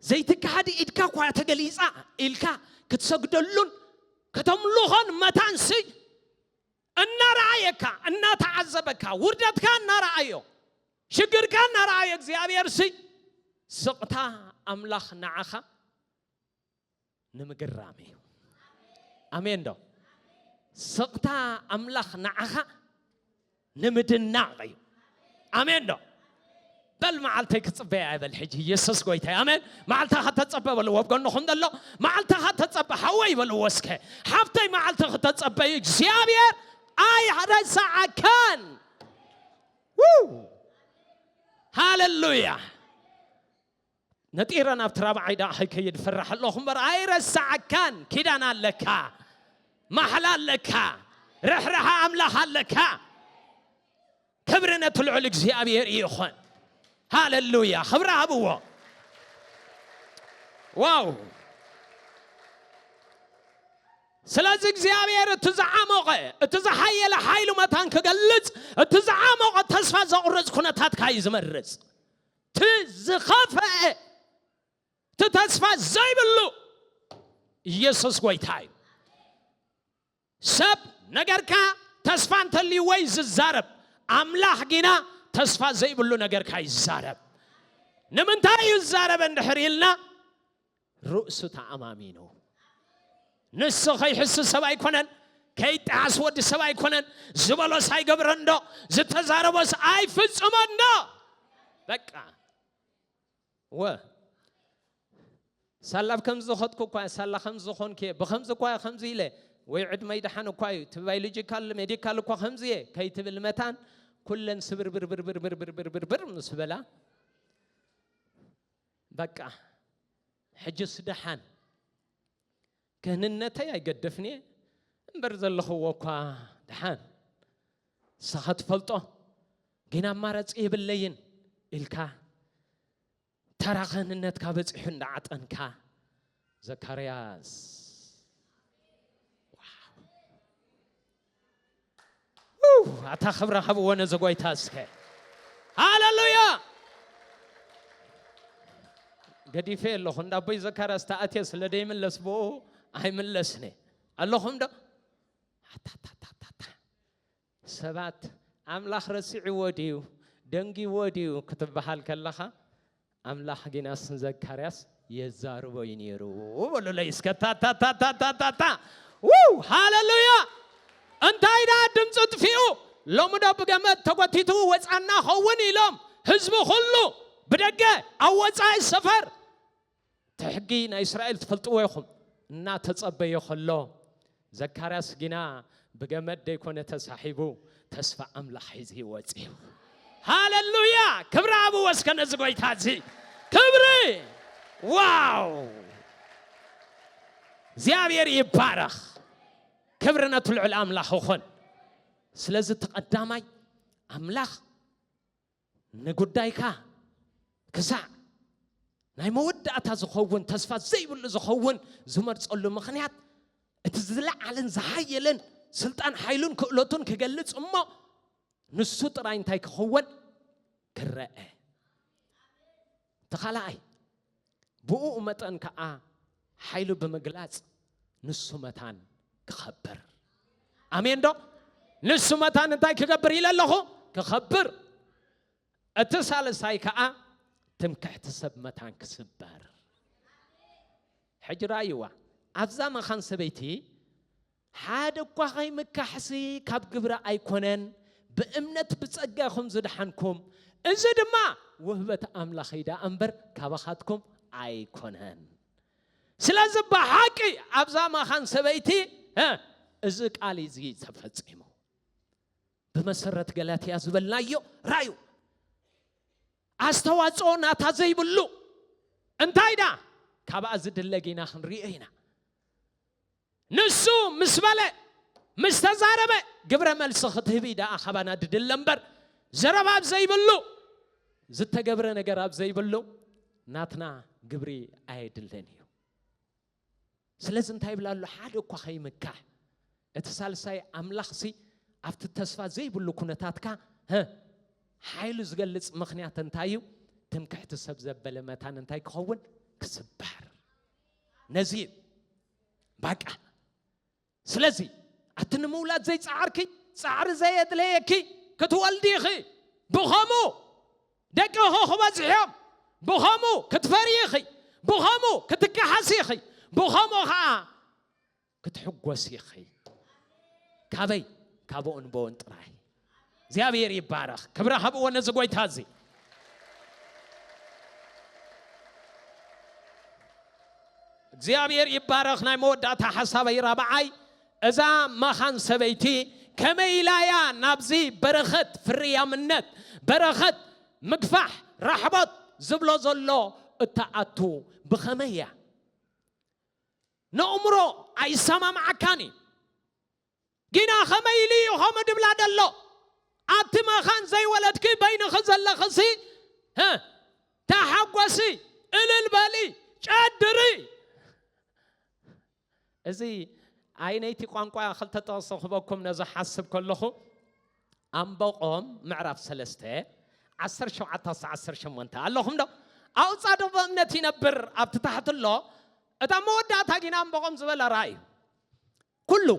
ዘይትካሃድ ኢድካ እኳ ተገሊፃ ኢልካ ክትሰግደሉን ከተምልኾን መታን ስይ እናረኣየካ እናተዓዘበካ ውርደትካ እናረኣዮ ሽግርካ እናረኣዮ እግዚኣብሔርሲ ስቕታ ኣምላኽ ንዓኻ ንምግራም እዩ ኣሜን ዶ ስቕታ ኣምላኽ ንዓኻ ንምድናቕ እዩ ኣሜን ዶ በል መዓልተይ ክጽበያ እየ በል ሕጂ ኢየሱስ ጎይታ እዩ ኣሜን መዓልትኻ ተጸበ በልዎ ኣብ ጎንኹም ዘሎ መዓልትኻ ተጸበ ሓወይ በልዎ እስከ ሓፍተይ መዓልቲ ክተጸበዩ እግዚኣብሔር ኣይረሳዓካን ሃለሉያ ነጢረ ናብቲ ራብዓይ ደኣ ከይከይድ ፈራሕ ኣለኹ እምበር ኣይረሳዓካን ኪዳን ኣለካ ማሕላ ኣለካ ርሕራሓ ኣምላኽ ኣለካ ክብሪ ነቲ ልዑል እግዚኣብሔር ይኾን ሃለሉያ ክብሪ ሃብዎ ዋው ስለዚ እግዚኣብሔር እቲ ዝዓሞቐ እቲ ዝሓየለ ሓይሉ መታን ክገልጽ እቲ ዝዓሞቐ ተስፋ ዘቑርፅ ኩነታትካ እዩ ዝመርፅ እቲ ዝኸፈኤ እቲ ተስፋ ዘይብሉ ኢየሱስ ጎይታ እዩ ሰብ ነገርካ ተስፋ እንተልይዎ እዩ ዝዛረብ ኣምላኽ ጊና ተስፋ ዘይብሉ ነገርካ ይዛረብ ንምንታይ እዩ ዝዛረበ እንድሕር ኢልና ርእሱ ተኣማሚኑ ንሱ ከይሕሱ ሰብ ኣይኮነን ከይጠዓስ ወዲ ሰብ ኣይኮነን ዝበሎስ ኣይገብረን ዶ ዝተዛረቦስ ኣይፍፅሞን ዶ በቃ ወ ሳላ ብ ከምዚ ዝኸትኩ እኳ እየ ሳላ ከም ዝኾንክ እየ ብከምዚ እኳ እየ ከምዚ ኢለ ወይ ዕድመይ ድሓን እኳ እዩ እቲ ባዮሎጂካል ሜዲካል እኳ ከምዚ እየ ከይትብል መታን ኩለን ስብርብርብርብርብርብርብርብር ምስ በላ በቃ ሕጅስ ደሓን ክህንነተይ ኣይገደፍንየ እምበር ዘለኽዎ እኳ ደሓን ንስኻ ትፈልጦ ግን ኣማራፂ የብለይን ኢልካ ተራ ክህንነትካ በፂሑ እንዳዓጠንካ ዘካርያስ ኣታ ክብረ ሃብዎ ነዚ ጎይታ እስከ ሃለሉያ ገዲፈ ኣለኹ እንዳ ኣቦይ ዘካርያስ ተኣትየ ስለ ደይምለስ ብኡ ኣይምለስኒ ኣለኹም ዶ ሰባት ኣምላኽ ረሲዕዎ ድዩ ደንጊዎ ድዩ ክትብሃል ከለኻ ኣምላኽ ጊናስ ንዘካርያስ የዛርቦ እዩ ነይሩ በሉለይ እስከ ታታታታታታታ ውው ሃለሉያ እንታይ ደኣ ድምፂ ጥፊኡ ሎሚ ዶ ብገመድ ተጎቲቱ ወፃና ኸውን ኢሎም ህዝቢ ኩሉ ብደገ ኣብ ወፃኢ ሰፈር እቲ ሕጊ ናይ እስራኤል ትፈልጥዎ ኢኹም እናተጸበዮ ከሎ ዘካርያስ ግና ብገመድ ደይኮነ ተሳሒቡ ተስፋ ኣምላኽ ሒዙ ወጺኡ። ሃለሉያ! ክብሪ ኣብዎ እስከ ነዚ ጎይታ እዚ ክብሪ ዋው! እግዚኣብሔር ይባረኽ። ክብሪ ነቲ ልዑል ኣምላኽ ይኹን። ስለዚ እቲ ቀዳማይ ኣምላኽ ንጉዳይካ ክሳዕ ናይ መወዳእታ ዝኸውን ተስፋ ዘይብሉ ዝኸውን ዝመርጸሉ ምኽንያት እቲ ዝለዓለን ዝሓየለን ስልጣን ሓይሉን ክእለቱን ክገልጽ እሞ ንሱ ጥራይ እንታይ ክኽወን ክረአ እቲ ኻልኣይ ብእኡ መጠን ከኣ ሓይሉ ብምግላጽ ንሱ መታን ክኸብር ኣሜን ዶ ንሱ መታን እንታይ ክገብር ኢለ ኣለኹ ክኸብር እቲ ሳልሳይ ከኣ ትምክሕቲ ሰብ መታን ክስበር ሕጂ ረኣይዋ ኣብዛ መኻን ሰበይቲ ሓደ እኳ ኸይምካሕሲ ካብ ግብሪ ኣይኮነን፣ ብእምነት ብጸጋ ኢኹም ዝደሓንኩም፣ እዚ ድማ ውህበት ኣምላኽ እዩ ደኣ እምበር ካባኻትኩም ኣይኮነን። ስለዚ ብሓቂ ኣብዛ መኻን ሰበይቲ እዚ ቃል እዚ ተፈጺሙ። ብመሰረት ገላትያ ዝበልናዮ ራዩ ኣስተዋጽኦ ናታ ዘይብሉ እንታይ ዳ ካብኣ ዝድለ ጌና ክንሪኦ ኢና። ንሱ ምስ በለ፣ ምስ ተዛረበ፣ ግብረ መልሲ ክትህቢ ደኣ ካባና ድድለ እምበር፣ ዘረባ ኣብ ዘይብሉ፣ ዝተገብረ ነገር ኣብ ዘይብሉ፣ ናትና ግብሪ ኣየድልን እዩ። ስለዚ እንታይ ይብላ ኣሎ? ሓደ እኳ ከይምካሕ፣ እቲ ሳልሳይ ኣምላኽሲ ኣብቲ ተስፋ ዘይብሉ ኩነታትካ ሓይሉ ዝገልጽ ምክንያት እንታይ እዩ? ትምክሕቲ ሰብ ዘበለ መታን እንታይ ክኸውን? ክስበር ነዚ እዩ ባቃ ስለዚ ኣቲ ንምውላድ ዘይፀዓርኪ ፃዕሪ ዘየድለየኪ ክትወልዲ ኢኺ ብኸምኡ ደቅኺ ክበዝሕዮም ብኸምኡ ክትፈርዪ ኢኺ ብኸምኡ ክትከሓሲ ኢኺ ብኸምኡ ከዓ ክትሕጎሲ ኢኺ ካበይ ካብ እንቦን ጥራይ እግዚኣብሔር ይባረኽ ክብሪ ሃብዎ ነዚ ጎይታ እዚ እግዚኣብሔር ይባረኽ ናይ መወዳእታ ሓሳበይ ራብዓይ እዛ መኻን ሰበይቲ ከመይ ኢላ እያ ናብዚ በረኸት ፍርያምነት በረኸት ምግፋሕ ራሕቦት ዝብሎ ዘሎ እትኣቱ ብኸመይ እያ ንእምሮ ኣይሰማምዓካን እዩ ግና ከመይ ኢሉ እዩ ከምኡ ድብላ ደሎ? ኣብቲ መኻን ዘይወለድኪ በይንኺ ዘለኽሲ ህ ተሓጎሲ እልል በሊ ጨድሪ። እዚ ኣይነይቲ ቋንቋ ክልተ ጥቕሲ ክበኩም ነዚ ሓስብ ከለኹ ኣምበቆም ምዕራፍ ሰለስተ ዓሰርተ ሸውዓተ ክሳዕ ዓሰርተ ሸሞንተ ኣለኹም ዶ? ኣብኡ ጻድቕ ብእምነት ይነብር ኣብቲ ታሕቲ ኣሎ እታ መወዳእታ ግና ኣምበቆም ዝበለ ራእዩ ኩሉ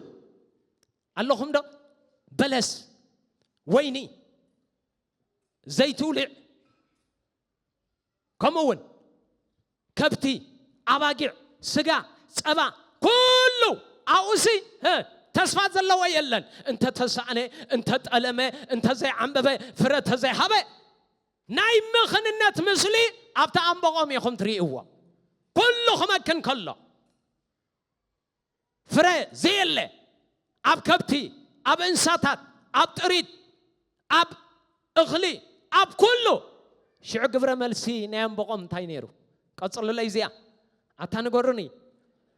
ኣለኹም ዶ በለስ ወይኒ ዘይትውሊዕ ከምኡ እውን ከብቲ ኣባጊዕ ስጋ ፀባ ኩሉ ኣብኡ ሲ ተስፋ ዘለዎ የለን እንተተሳእነ እንተጠለመ እንተዘይዓንበበ ፍረ ተዘይሃበ ናይ ምኽንነት ምስሊ ኣብቲ ኣንበቆም ኢኹም ትርእይዎ ኩሉ ክመክን ከሎ ፍረ ዘየለ ኣብ ከብቲ ኣብ እንሳታት ኣብ ጥሪት ኣብ እኽሊ ኣብ ኩሉ ሽዑ ግብረ መልሲ ናይ ኣምበቆም እንታይ ነይሩ ቀጽሉለይ እዚኣ ኣታ ንገሩኒ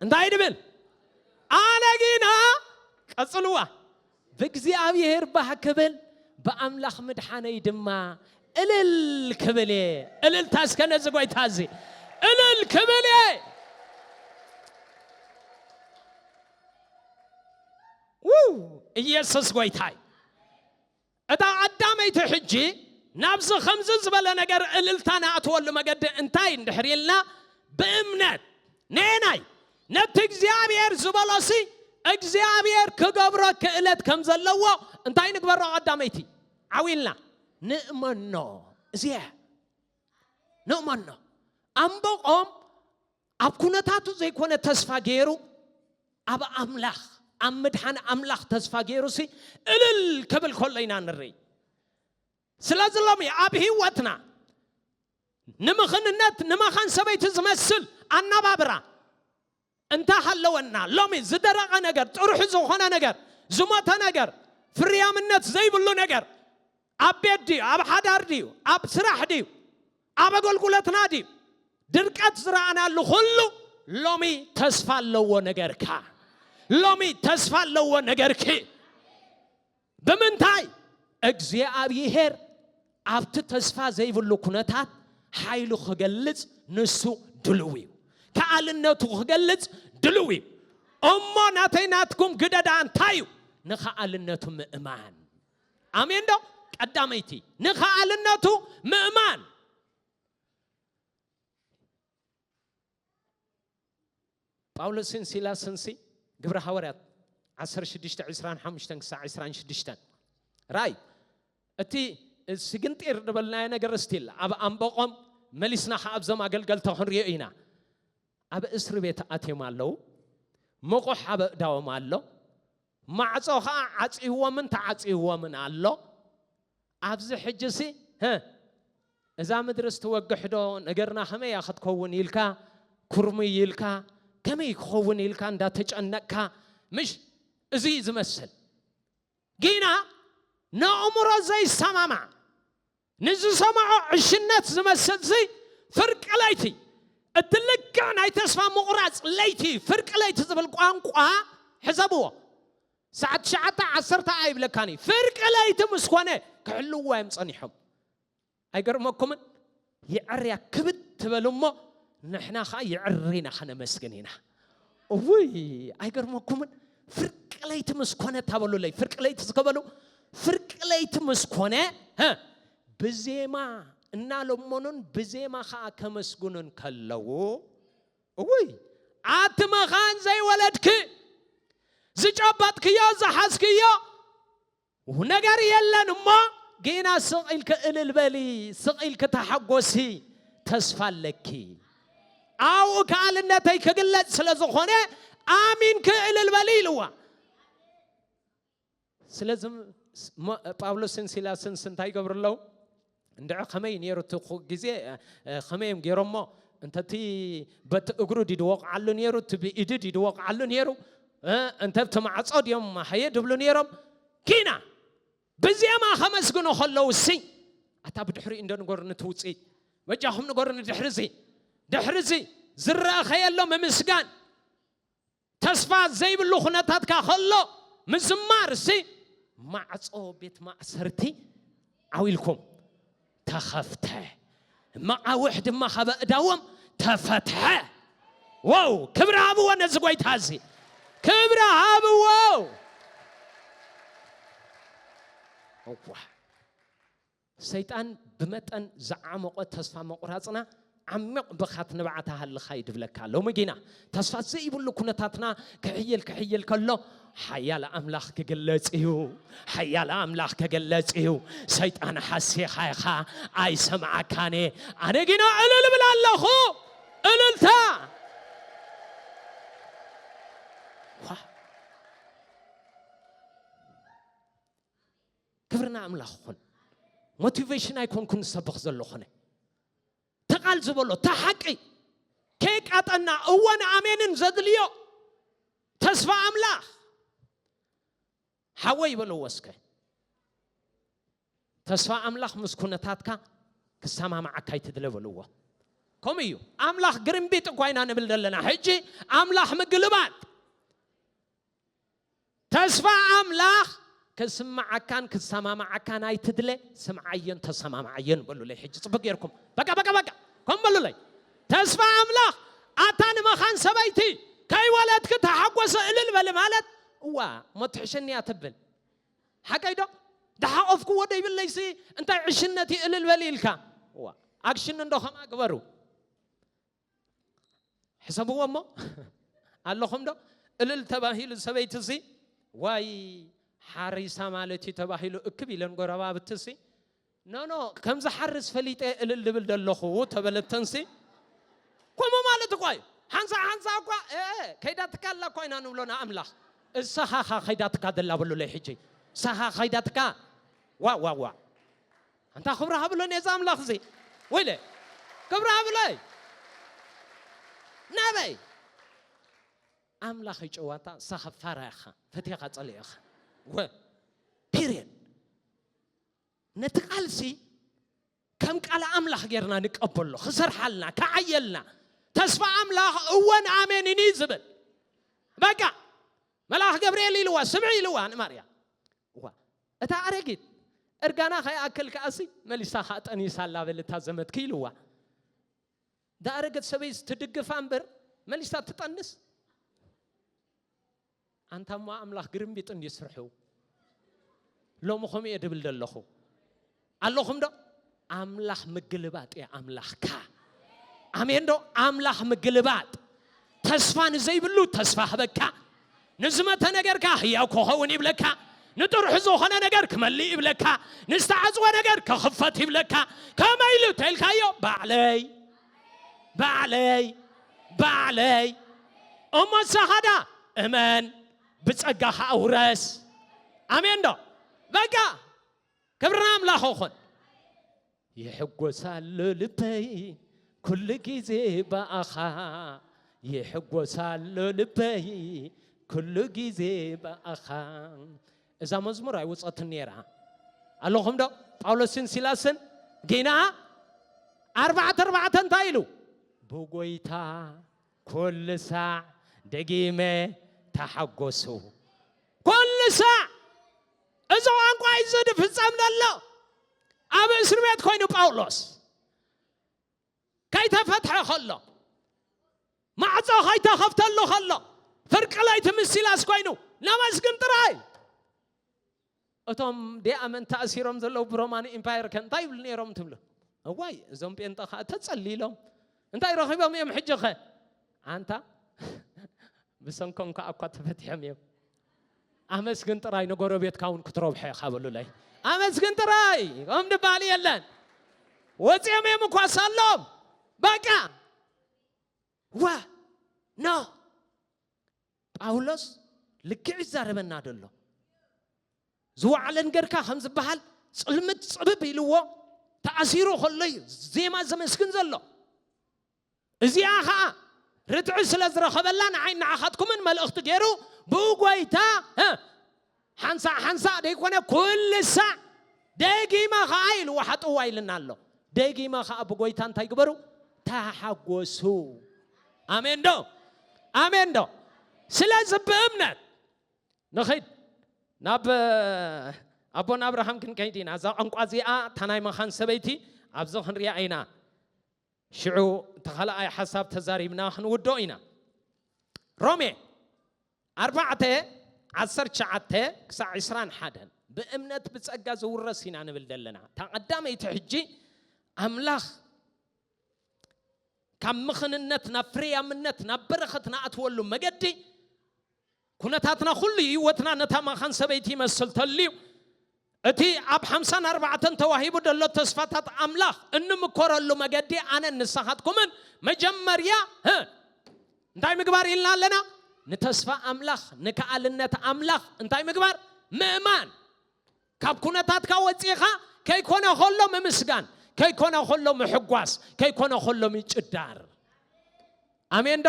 እንታይ ድብል ኣነ ጊና ቀጽልዋ ብእግዚኣብሄር ባህ ክብል ብኣምላኽ ምድሓነይ ድማ እልል ክብል እየ። እልልታ እስከ ነዚ ጎይታ እዚ እልል ክብል እየ። ውይ ኢየሱስ ጎይታ እዩ። እታ ቀዳመይቲ ሕጂ ናብዚ ከምዚ ዝበለ ነገር እልልታ ንኣትወሉ መገዲ እንታይ እንድሕር ኢልና ብእምነት ነየናይ ነቲ እግዚኣብሄር ዝበሎሲ እግዚኣብሄር ክገብሮ ክእለት ከም ዘለዎ እንታይ ንግበሮ ቀዳመይቲ ዓው ኢልና ንእመኖ እዚኣ ንእመኖ ኣምበቆም ኣብ ኩነታቱ ዘይኮነ ተስፋ ገይሩ ኣብ ኣምላኽ ኣብ ምድሓን ኣምላኽ ተስፋ ገይሩሲ እልል ክብል ከሎ ኢና ንርኢ ስለዚ ሎሚ ኣብ ህይወትና ንምኽንነት ንመኻን ሰበይቲ ዝመስል ኣነባብራ እንተሃለወና፣ ሎሚ ዝደረቐ ነገር፣ ጥርሑ ዝኾነ ነገር፣ ዝሞተ ነገር፣ ፍርያምነት ዘይብሉ ነገር፣ ኣብ ቤት ድዩ፣ ኣብ ሓዳር ድዩ፣ ኣብ ስራሕ ድዩ፣ ኣብ ኣገልግሎትና ድዩ፣ ድርቀት ዝረኣናሉ ኩሉ ሎሚ ተስፋ ኣለዎ ነገርካ፣ ሎሚ ተስፋ ኣለዎ ነገርኪ። ብምንታይ? እግዚኣብሄር ኣብቲ ተስፋ ዘይብሉ ኩነታት ሓይሉ ክገልጽ ንሱ ድሉው እዩ። ከኣልነቱ ክገልጽ ድሉው እዩ። እሞ ናተይ ናትኩም ግደ ደኣ እንታይ እዩ? ንኸኣልነቱ ምእማን። ኣሜን ዶ? ቀዳመይቲ ንኸኣልነቱ ምእማን። ጳውሎስን ሲላስንሲ ግብረ ሃዋርያት ዓሰርተ ሽዱሽተ ዕስራን ሓሙሽተን ክሳዕ ዕስራን ሽዱሽተን ራእይ እቲ ስግንጢር ዝበልናዮ ነገር ስቲል ኣብ ኣንበቆም መሊስና ከዓ ኣብዞም ኣገልገልቲ ክንሪኦ ኢና ኣብ እስሪ ቤት ኣትዮም ኣለዉ ምቑሕ ኣብ እዳዎም ኣሎ ማዕጾ ኸኣ ዓጽይዎምን ተዓጽይዎምን ኣሎ። ኣብዚ ሕጂሲ ህ እዛ ምድርስ ትወግሕዶ ነገርና ከመይ እያ ክትከውን ኢልካ ኩርምይ ኢልካ ከመይ ክኸውን ኢልካ እንዳተጨነቅካ ምሽ እዚ እዩ ዝመስል ግና ንእምሮ ዘይሰማማዕ ንዝሰምዖ ዕሽነት ዝመስል'ዚ ፍርቂ ለይቲ፣ እቲ ልክዕ ናይ ተስፋ ምቑራጽ ለይቲ፣ ፍርቂ ለይቲ ዝብል ቋንቋ ሕሰብዎ። ሰዓት ትሽዓተ፣ ዓሰርተ ኣይብለካን እዩ። ፍርቂ ለይቲ ምስ ኮነ ክሕልውዎ እዮም ጸኒሖም። ኣይገርመኩምን? የዕርያ ክብድ ትበል እሞ ንሕና ከኣ የዕሪና ከነመስግን ኢና። ውይ ኣይገርመኩምን ፍርቂ ለይቲ ምስ ኮነ ታበሉለይ ፍርቂ ለይቲ ዝከበሉ ፍርቂ ለይቲ ምስ ኮነ ብዜማ እናለመኑን ብዜማ ከዓ ከመስግኑን ከለዉ እውይ ኣቲ መኻን ዘይወለድኪ ዝጨበጥክዮ ዝሓዝክዮ ኡፍ ነገር የለን እሞ ጌና ስቅ ኢልኪ እልል በሊ ስቅ ኢልኪ ተሓጎሲ ተስፋ ኣለኪ ኣብኡ ከኣልነተይ ክግለጽ ስለ ዝኾነ ኣሚንኪ እልል በሊ ኢልዋ ስለዚ ጳውሎስን ሲላስን እንታይ ይገብሩ ኣለዉ እንድዒ ከመይ ኔሩ እቲ ግዜ ከመይ እዮም ጌሮሞ እንተ እቲ በቲ እግሩ ድዩ ድወቕዓሉ ኔሩ እቲ ብኢዱ ድዩ ድወቕዓሉ ኔሩ እንተ ብቲ ማዕጾ ድዮም ሃየ ድብሉ ኔሮም ኪና ብዜማ ከመስግኑ ከለዉ ሲ ኣታ ብድሕሪኡ እንዶ ንገሩኒ እቲ ውፅኢት መጃኹም ንገሩኒ ድሕሪ እዚ ድሕሪ እዚ ዝረኸየሎ ምምስጋን ተስፋ ዘይብሉ ኩነታትካ ከሎ ምዝማርሲ ማዕጾ ቤት ማእሰርቲ ዓው ኢልኩም ተኸፍተ መቓውሕ ድማ ካብ ኣእዳዎም ተፈትሐ ዋው ክብሪ ሃብዎ ነዚ ጎይታ እዚ ክብሪ ሃብዎ እዋ ሰይጣን ብመጠን ዝዓሞቐ ተስፋ ምቑራጽና ዓሚቕ ብኻት ንብዓት ኣሃልኻ ይድብለካ። ሎሚ ጊና ተስፋ ዘይብሉ ኩነታትና ክሕይል ክሕይል ከሎ ሓያል ኣምላኽ ክግለጽ እዩ። ሓያል ኣምላኽ ክግለጽ እዩ። ሰይጣን ሓሲኻ ኢኻ ኣይሰምዓካን እየ። ኣነ ጊና እልል እብል ኣለኹ። እልልታ ክብሪ ንኣምላኽ ይኹን። ሞቲቬሽን ኣይኮንኩን ዝሰብኽ ዘለኹነ ተቓል ዝበሎ እታ ሓቂ ከየቃጠና እወን ኣሜንን ዘድልዮ ተስፋ ኣምላኽ ሓወይ በለዎ እስከ ተስፋ ኣምላኽ ምስ ኩነታትካ ክሰማማዓካ ይትድለ በልዎ ከምኡ እዩ ኣምላኽ ግርምቢጥ እኳ ኢና ንብል ዘለና ሕጂ ኣምላኽ ምግልባጥ ተስፋ ኣምላኽ ከስምዓካን ክሰማምዓካን ኣይትድለ ስምዓዮን ተሰማምዓዮን በሉለይ ሕጂ ጽቡቅ ጌርኩም በቃ በቃ በቃ ከምኡ በሉለይ ተስፋ ኣምላኽ ኣታ ንመኻን ሰበይቲ ከይወለድኪ ተሓጎሰ እልል በሊ ማለት እዋ እሞ ትሕሸኒያ ትብል ሓቀይ ዶ ደሓቆፍክዎ ደይብለይሲ እንታይ ዕሽነት እዩ እልል በሊ ኢልካ እዋ ኣክሽን እንዶ ከምኣ ግበሩ ሕሰብዎ እሞ ኣለኹም ዶ እልል ተባሂሉ ሰበይቲ ሲ ዋይ ሓሪሳ ማለት እዩ ተባሂሉ እክብ ኢለን ጎረባብቲ ሲ ኖኖ ከም ዝሓርስ ፈሊጠ እልል ድብል ዘለኹ ተበለተንሲ ከምኡ ማለት እኳ እዩ ሓንሳ ሓንሳ እኳ ከይዳትካ ኣላ እኳ ኢና ንብሎ ንኣምላኽ እሳኻ ኸይዳትካ ዘላ በሉለይ ሕጂ እሳኻ ኸይዳትካ ዋ ዋ ዋ ኣንታ ክብሪ ሃብለ ነዚ ኣምላኽ እዚ ወይለ ክብሪ ሃብለይ ናበይ ኣምላኽ ይጨዋታ ንሳኻ ፋራ ኢኻ ፈቴኻ ጸሊእኻ ወ ፒርየድ ነቲ ቃልሲ ከም ቃል ኣምላኽ ጌርና ንቀበሎ ክሰርሓልና ክዓየልና ተስፋ ኣምላኽ እወን ኣሜንን እዩ ዝብል በቃ መልኣኽ ገብርኤል ኢልዋ ስምዒ ኢልዋ ንማርያም እዃ እታ ኣረጊት እርጋና ከይኣክል ከኣሲ መሊሳ ከኣ ጠኒሳ ኣላ በል እታ ዘመድ ክኢልዋ ዳኣረገት ሰበይስ ትድግፋ እምበር መሊሳ ትጠንስ ኣንታ እሞ ኣምላኽ ግርምቢጥ እንድዩ ስርሑ ሎሚ ከምኡ እየ ድብል ዘለኹ ኣለኹም ዶ ኣምላኽ ምግልባጥ እያ ኣምላኽካ ኣሜን ዶ ኣምላኽ ምግልባጥ ተስፋ ንዘይብሉ ተስፋ ህበካ ንዝመተ ነገርካ ህያው ክኸውን ይብለካ ንጥርሑ ዝኾነ ነገር ክመልእ ይብለካ ንዝተዓፅወ ነገር ክኽፈት ይብለካ ከመይ ኢሉ ተልካዮ ባዕለይ ባዕለይ ባዕለይ እሞ ሳኻዳ እመን ብፀጋ ከዓ ውረስ ኣሜን ዶ በቃ ክብሪ ንኣምላኽ ይኹን። ይሕጎሳሎ ልበይ ኩሉ ግዜ ብኣኻ ይሕጎሳሎ ልበይ ኩሉ ግዜ ብኣኻ እዛ መዝሙር ኣይወፀትን ነይራ ኣለኹም ዶ ጳውሎስን ሲላስን ጌና ኣርባዕተ ኣርባዕተ እንታይ ኢሉ ብጎይታ ኩሉ ሳዕ ደጊመ ተሓጎሱ ኩሉ ሳዕ እዚ ቋንቋ እዩ ዝፍጸም ዘሎ ኣብ እስር ቤት ኮይኑ ጳውሎስ ከይተፈትሐ ከሎ ማዕጾ ከይተኸፍተሉ ከሎ ፍርቂ ለይቲ ምስ ሲላስ ኮይኑ ነመስግን ጥራይ እቶም ደኣመን ተኣሲሮም ዘለዉ ብሮማን ኢምፓየር ከ እንታይ ይብሉ ነይሮም ትብሉ? እዋይ እዞም ጴንጠ ከኣ ተጸሊሎም እንታይ ረኺቦም እዮም ሕጂ ከ? ኣንታ ብሰንኮም ከኣ እኳ ተፈቲሖም እዮም። ኣመስግን ጥራይ ንጎረቤትካ እውን ክትረብሖ ኢኻ በሉለይ። ኣመስግን ጥራይ ከም ድበሃል የለን። ወፂኦም እዮም እኳ ሳሎም በቃ ዋ ኖ ጳውሎስ ልክዕ እዩ ዝዛረበና ደሎ ዝወዓለን ገርካ ከም ዝበሃል ፅልምት ፅብብ ኢልዎ ተኣሲሩ ከሎ እዩ ዜማ ዘመስግን ዘሎ እዚኣ ከዓ ርትዒ ስለ ዝረኸበላ ንዓይ ንዓኻትኩምን መልእኽቲ ገይሩ ብኡ ጎይታ ሓንሳእ ሓንሳእ ደይኮነ ኩሉ ሳዕ ደጊመ ኸኣ ኢሉ ወሓጥዋ ኢልና ኣሎ ደጊመ ኸኣ ብጎይታ እንታይ ግበሩ ተሓጎሱ ኣሜን ዶ ኣሜን ዶ ስለዚ ብእምነት ንኺድ ናብ ኣቦና ኣብርሃም ክንከይድ ኢና እዛ ቋንቋ እዚኣ እታ ናይ መኻን ሰበይቲ ኣብዚ ክንሪኣ ኢና ሽዑ እቲ ኻልኣይ ሓሳብ ተዛሪብና ኽንውድኦ ኢና። ሮሜ ኣርባዕተ ዓሰርተ ትሽዓተ ክሳዕ ዕስራን ሓደን ብእምነት ብጸጋ ዝውረስ ኢና ንብል ዘለና። እታ ቐዳመይቲ ሕጂ ኣምላኽ ካብ ምኽንነት ናብ ፍርያምነት ናብ በረኸት ንኣትወሉ መገዲ ኩነታትና ኩሉ ሂወትና ነታ መኻን ሰበይቲ ይመስል ተልዩ። እቲ ኣብ ሓምሳን ኣርባዕተን ተዋሂቡ ደሎ ተስፋታት ኣምላኽ እንምኮረሉ መገዲ ኣነን ንሳኻትኩምን መጀመርያ ህ እንታይ ምግባር ኢልና ኣለና ንተስፋ ኣምላኽ ንከኣልነት ኣምላኽ እንታይ ምግባር ምእማን ካብ ኩነታትካ ወጺእኻ ከይኮነ ከሎ ምምስጋን ከይኮነ ከሎ ምሕጓስ ከይኮነ ከሎ ምጭዳር ኣሜን ዶ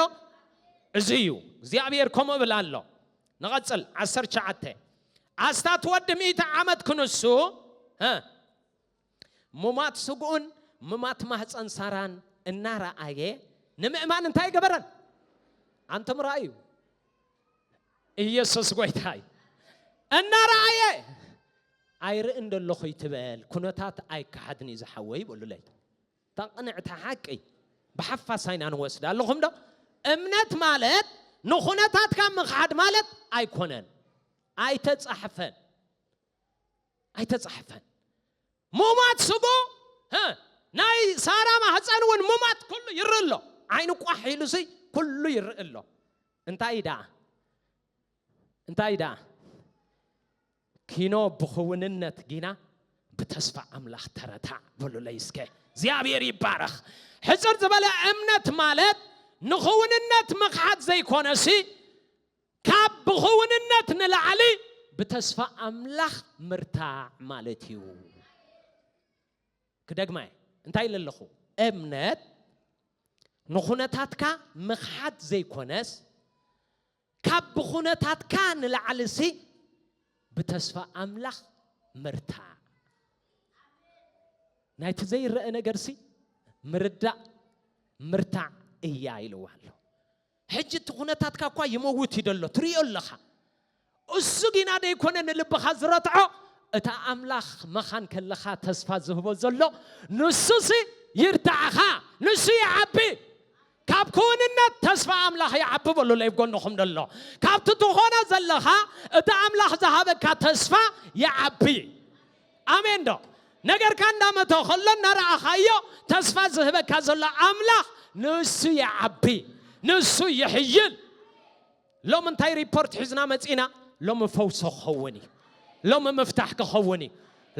እዚ እዩ እግዚኣብሔር ከምኡ ብል ኣሎ ንቐጽል ዓሰርተ ሸዓተ ኣስታት ወዲ ሚእቲ ዓመት ክንሱ እ ምሟት ስግኡን ምሟት ማህጸን ሳራን እናረኣየ ንምእማን እንታይ ገበረን? ኣንቶም ረኣዩ። ኢየሱስ ጎይታ እዩ። እናረኣየ ኣይርእን ደለኹ ይትበል ኩነታት ኣይከሓድን እዩ ዝሓወይ በሉለይ ተቕንዕቲ ሓቂ ብሓፋስ ኣይና ንወስድ ኣለኹም ዶ እምነት ማለት ንኹነታትካ ምኽሓድ ማለት ኣይኮነን ኣይተጻሕፈን ኣይተጻሕፈን ሙማት ስጎ ናይ ሳራ ማህፀን እውን ሙማት ኩሉ ይርኢ ኣሎ ዓይኑ ቋሕ ኢሉ ሲ ኩሉ ይርኢ ኣሎ እንታይ እዩ ደኣ እንታይ ደኣ ኪኖ ብኽውንነት ጊና ብተስፋ ኣምላኽ ተረታዕ በሉለይ እስከ እግዚኣብሔር ይባረኽ ሕፅር ዝበለ እምነት ማለት ንኽውንነት ምኽሓት ዘይኮነሲ ካብ ብኹውንነት ንላዕሊ ብተስፋ ኣምላኽ ምርታዕ ማለት እዩ። ክደግማ እየ እንታይ ኢለ ኣለኹ? እምነት ንኹነታትካ ምኽሓድ ዘይኮነስ ካብ ብኹነታትካ ንላዕሊሲ ብተስፋ ኣምላኽ ምርታዕ ናይቲ ዘይረአ ነገርሲ ምርዳእ ምርታዕ እያ ኢልዋ ኣሎ። ሕጂ እቲ ኩነታትካ እኳ ይመውት እዩ ደሎ ትርእዮ ኣለኻ እሱ ጊና ደይኮነ ንልብኻ ዝረትዖ እታ ኣምላኽ መኻን ከለኻ ተስፋ ዝህቦ ዘሎ ንሱሲ ይርትዓኻ ንሱ ይዓቢ ካብ ክውንነት ተስፋ ኣምላኽ ይዓቢ በሉለ እብ ጎንኹም ደሎ ካብቲ ትኾኖ ዘለኻ እቲ ኣምላኽ ዝሃበካ ተስፋ ይዓቢ ኣሜን ዶ ነገርካ እንዳ መተ ከሎ እንዳ ረኣኻዮ ተስፋ ዝህበካ ዘሎ ኣምላኽ ንሱ ይዓቢ ንሱ ይሕይል ሎሚ እንታይ ሪፖርት ሒዝና መጺና ሎሚ ፈውሶ ክኸውን እዩ ሎሚ ምፍታሕ ክኸውን እዩ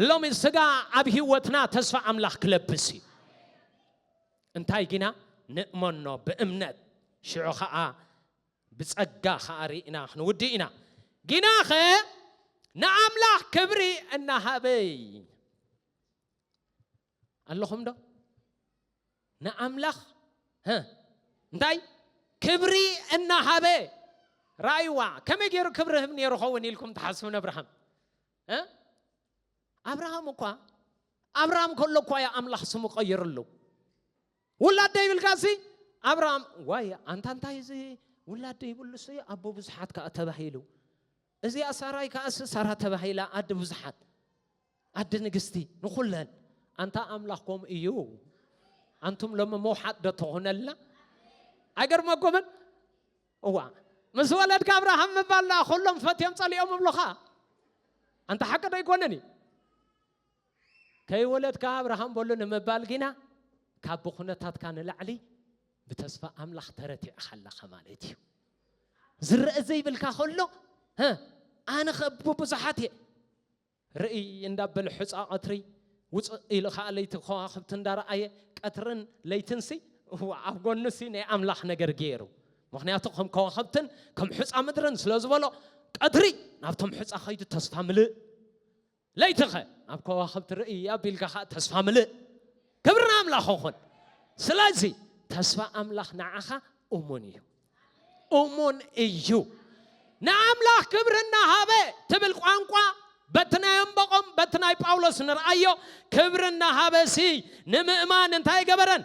ሎሚ ስጋ ኣብ ህይወትና ተስፋ ኣምላኽ ክለብስ እዩ እንታይ ግና ንእመኖ ብእምነት ሽዑ ከዓ ብጸጋ ከኣ ርኢና ክንውድእ ኢና። ግናኸ ንኣምላኽ ክብሪ እናሃበ ኣለኹምዶ? ንኣምላኽ እንታይ ክብሪ እናሃበ ራእይዋ ከመይ ገይሩ ክብሪ ህብ ነይሩ ኸውን ኢልኩም ትሓስቡ ነብርሃም ኣብርሃም እኳ ኣብርሃም ከሎ እኳ ዩ ኣምላኽ ስሙ ቀይርሉ ውላድ ዶ ይብልካ እሲ ኣብርሃም ዋይ ኣንታ እንታይ እዚ ውላድ ዶ ይብሉ እሲ ኣቦ ብዙሓት ከኣ ተባሂሉ እዚኣ ሳራይ ከኣ እሲ ሳራ ተባሂላ ኣዲ ብዙሓት ኣዲ ንግስቲ ንኹለን ኣንታ ኣምላኽ ከምኡ እዩ ኣንቱም ሎሚ መውሓጥ ዶ ትኾነልና ኣይገርመኩምን እዋ ምስ ወለድካ ኣብርሃም ምባል ደኣ ኩሎም ፈትዮም ጸሊኦም እብሉኻ ኣንታ ሓቂ ዶ ኣይኮነን እዩ ከይወለድካ ኣብርሃም በሎ ንምባል ግና ካብ ብኩነታትካ ንላዕሊ ብተስፋ ኣምላኽ ተረቲዕኻ ኣለኻ ማለት እዩ። ዝረእ ዘይብልካ ከሎ ኣነ ከብ ብዙሓት እየ ርእይ እንዳበለ ሑፃ ቀትሪ ውፅእ ኢሉ ከዓ ለይቲ ከዋኽብቲ እንዳረኣየ ቀትርን ለይትንሲ ኣብ ጎኑሲ ናይ ኣምላኽ ነገር ገይሩ ምክንያቱ ከም ከዋኽብትን ከም ሑፃ ምድርን ስለ ዝበሎ ቀትሪ ናብቶም ሑፃ ከይዱ ተስፋ ምልእ ለይቲኸ ናብ ከዋኽብቲ ርእይ ኣቢልካ ኸዓ ተስፋ ምልእ ክብሪ ንኣምላኽ ይኹን ስለዚ ተስፋ ኣምላኽ ንዓኻ እሙን እዩ እሙን እዩ ንኣምላኽ ክብሪ እናሃበ ትብል ቋንቋ በቲ ናይ እምበቆም በቲ ናይ ጳውሎስ ንርኣዮ ክብሪ እናሃበ ሲ ንምእማን እንታይ ገበረን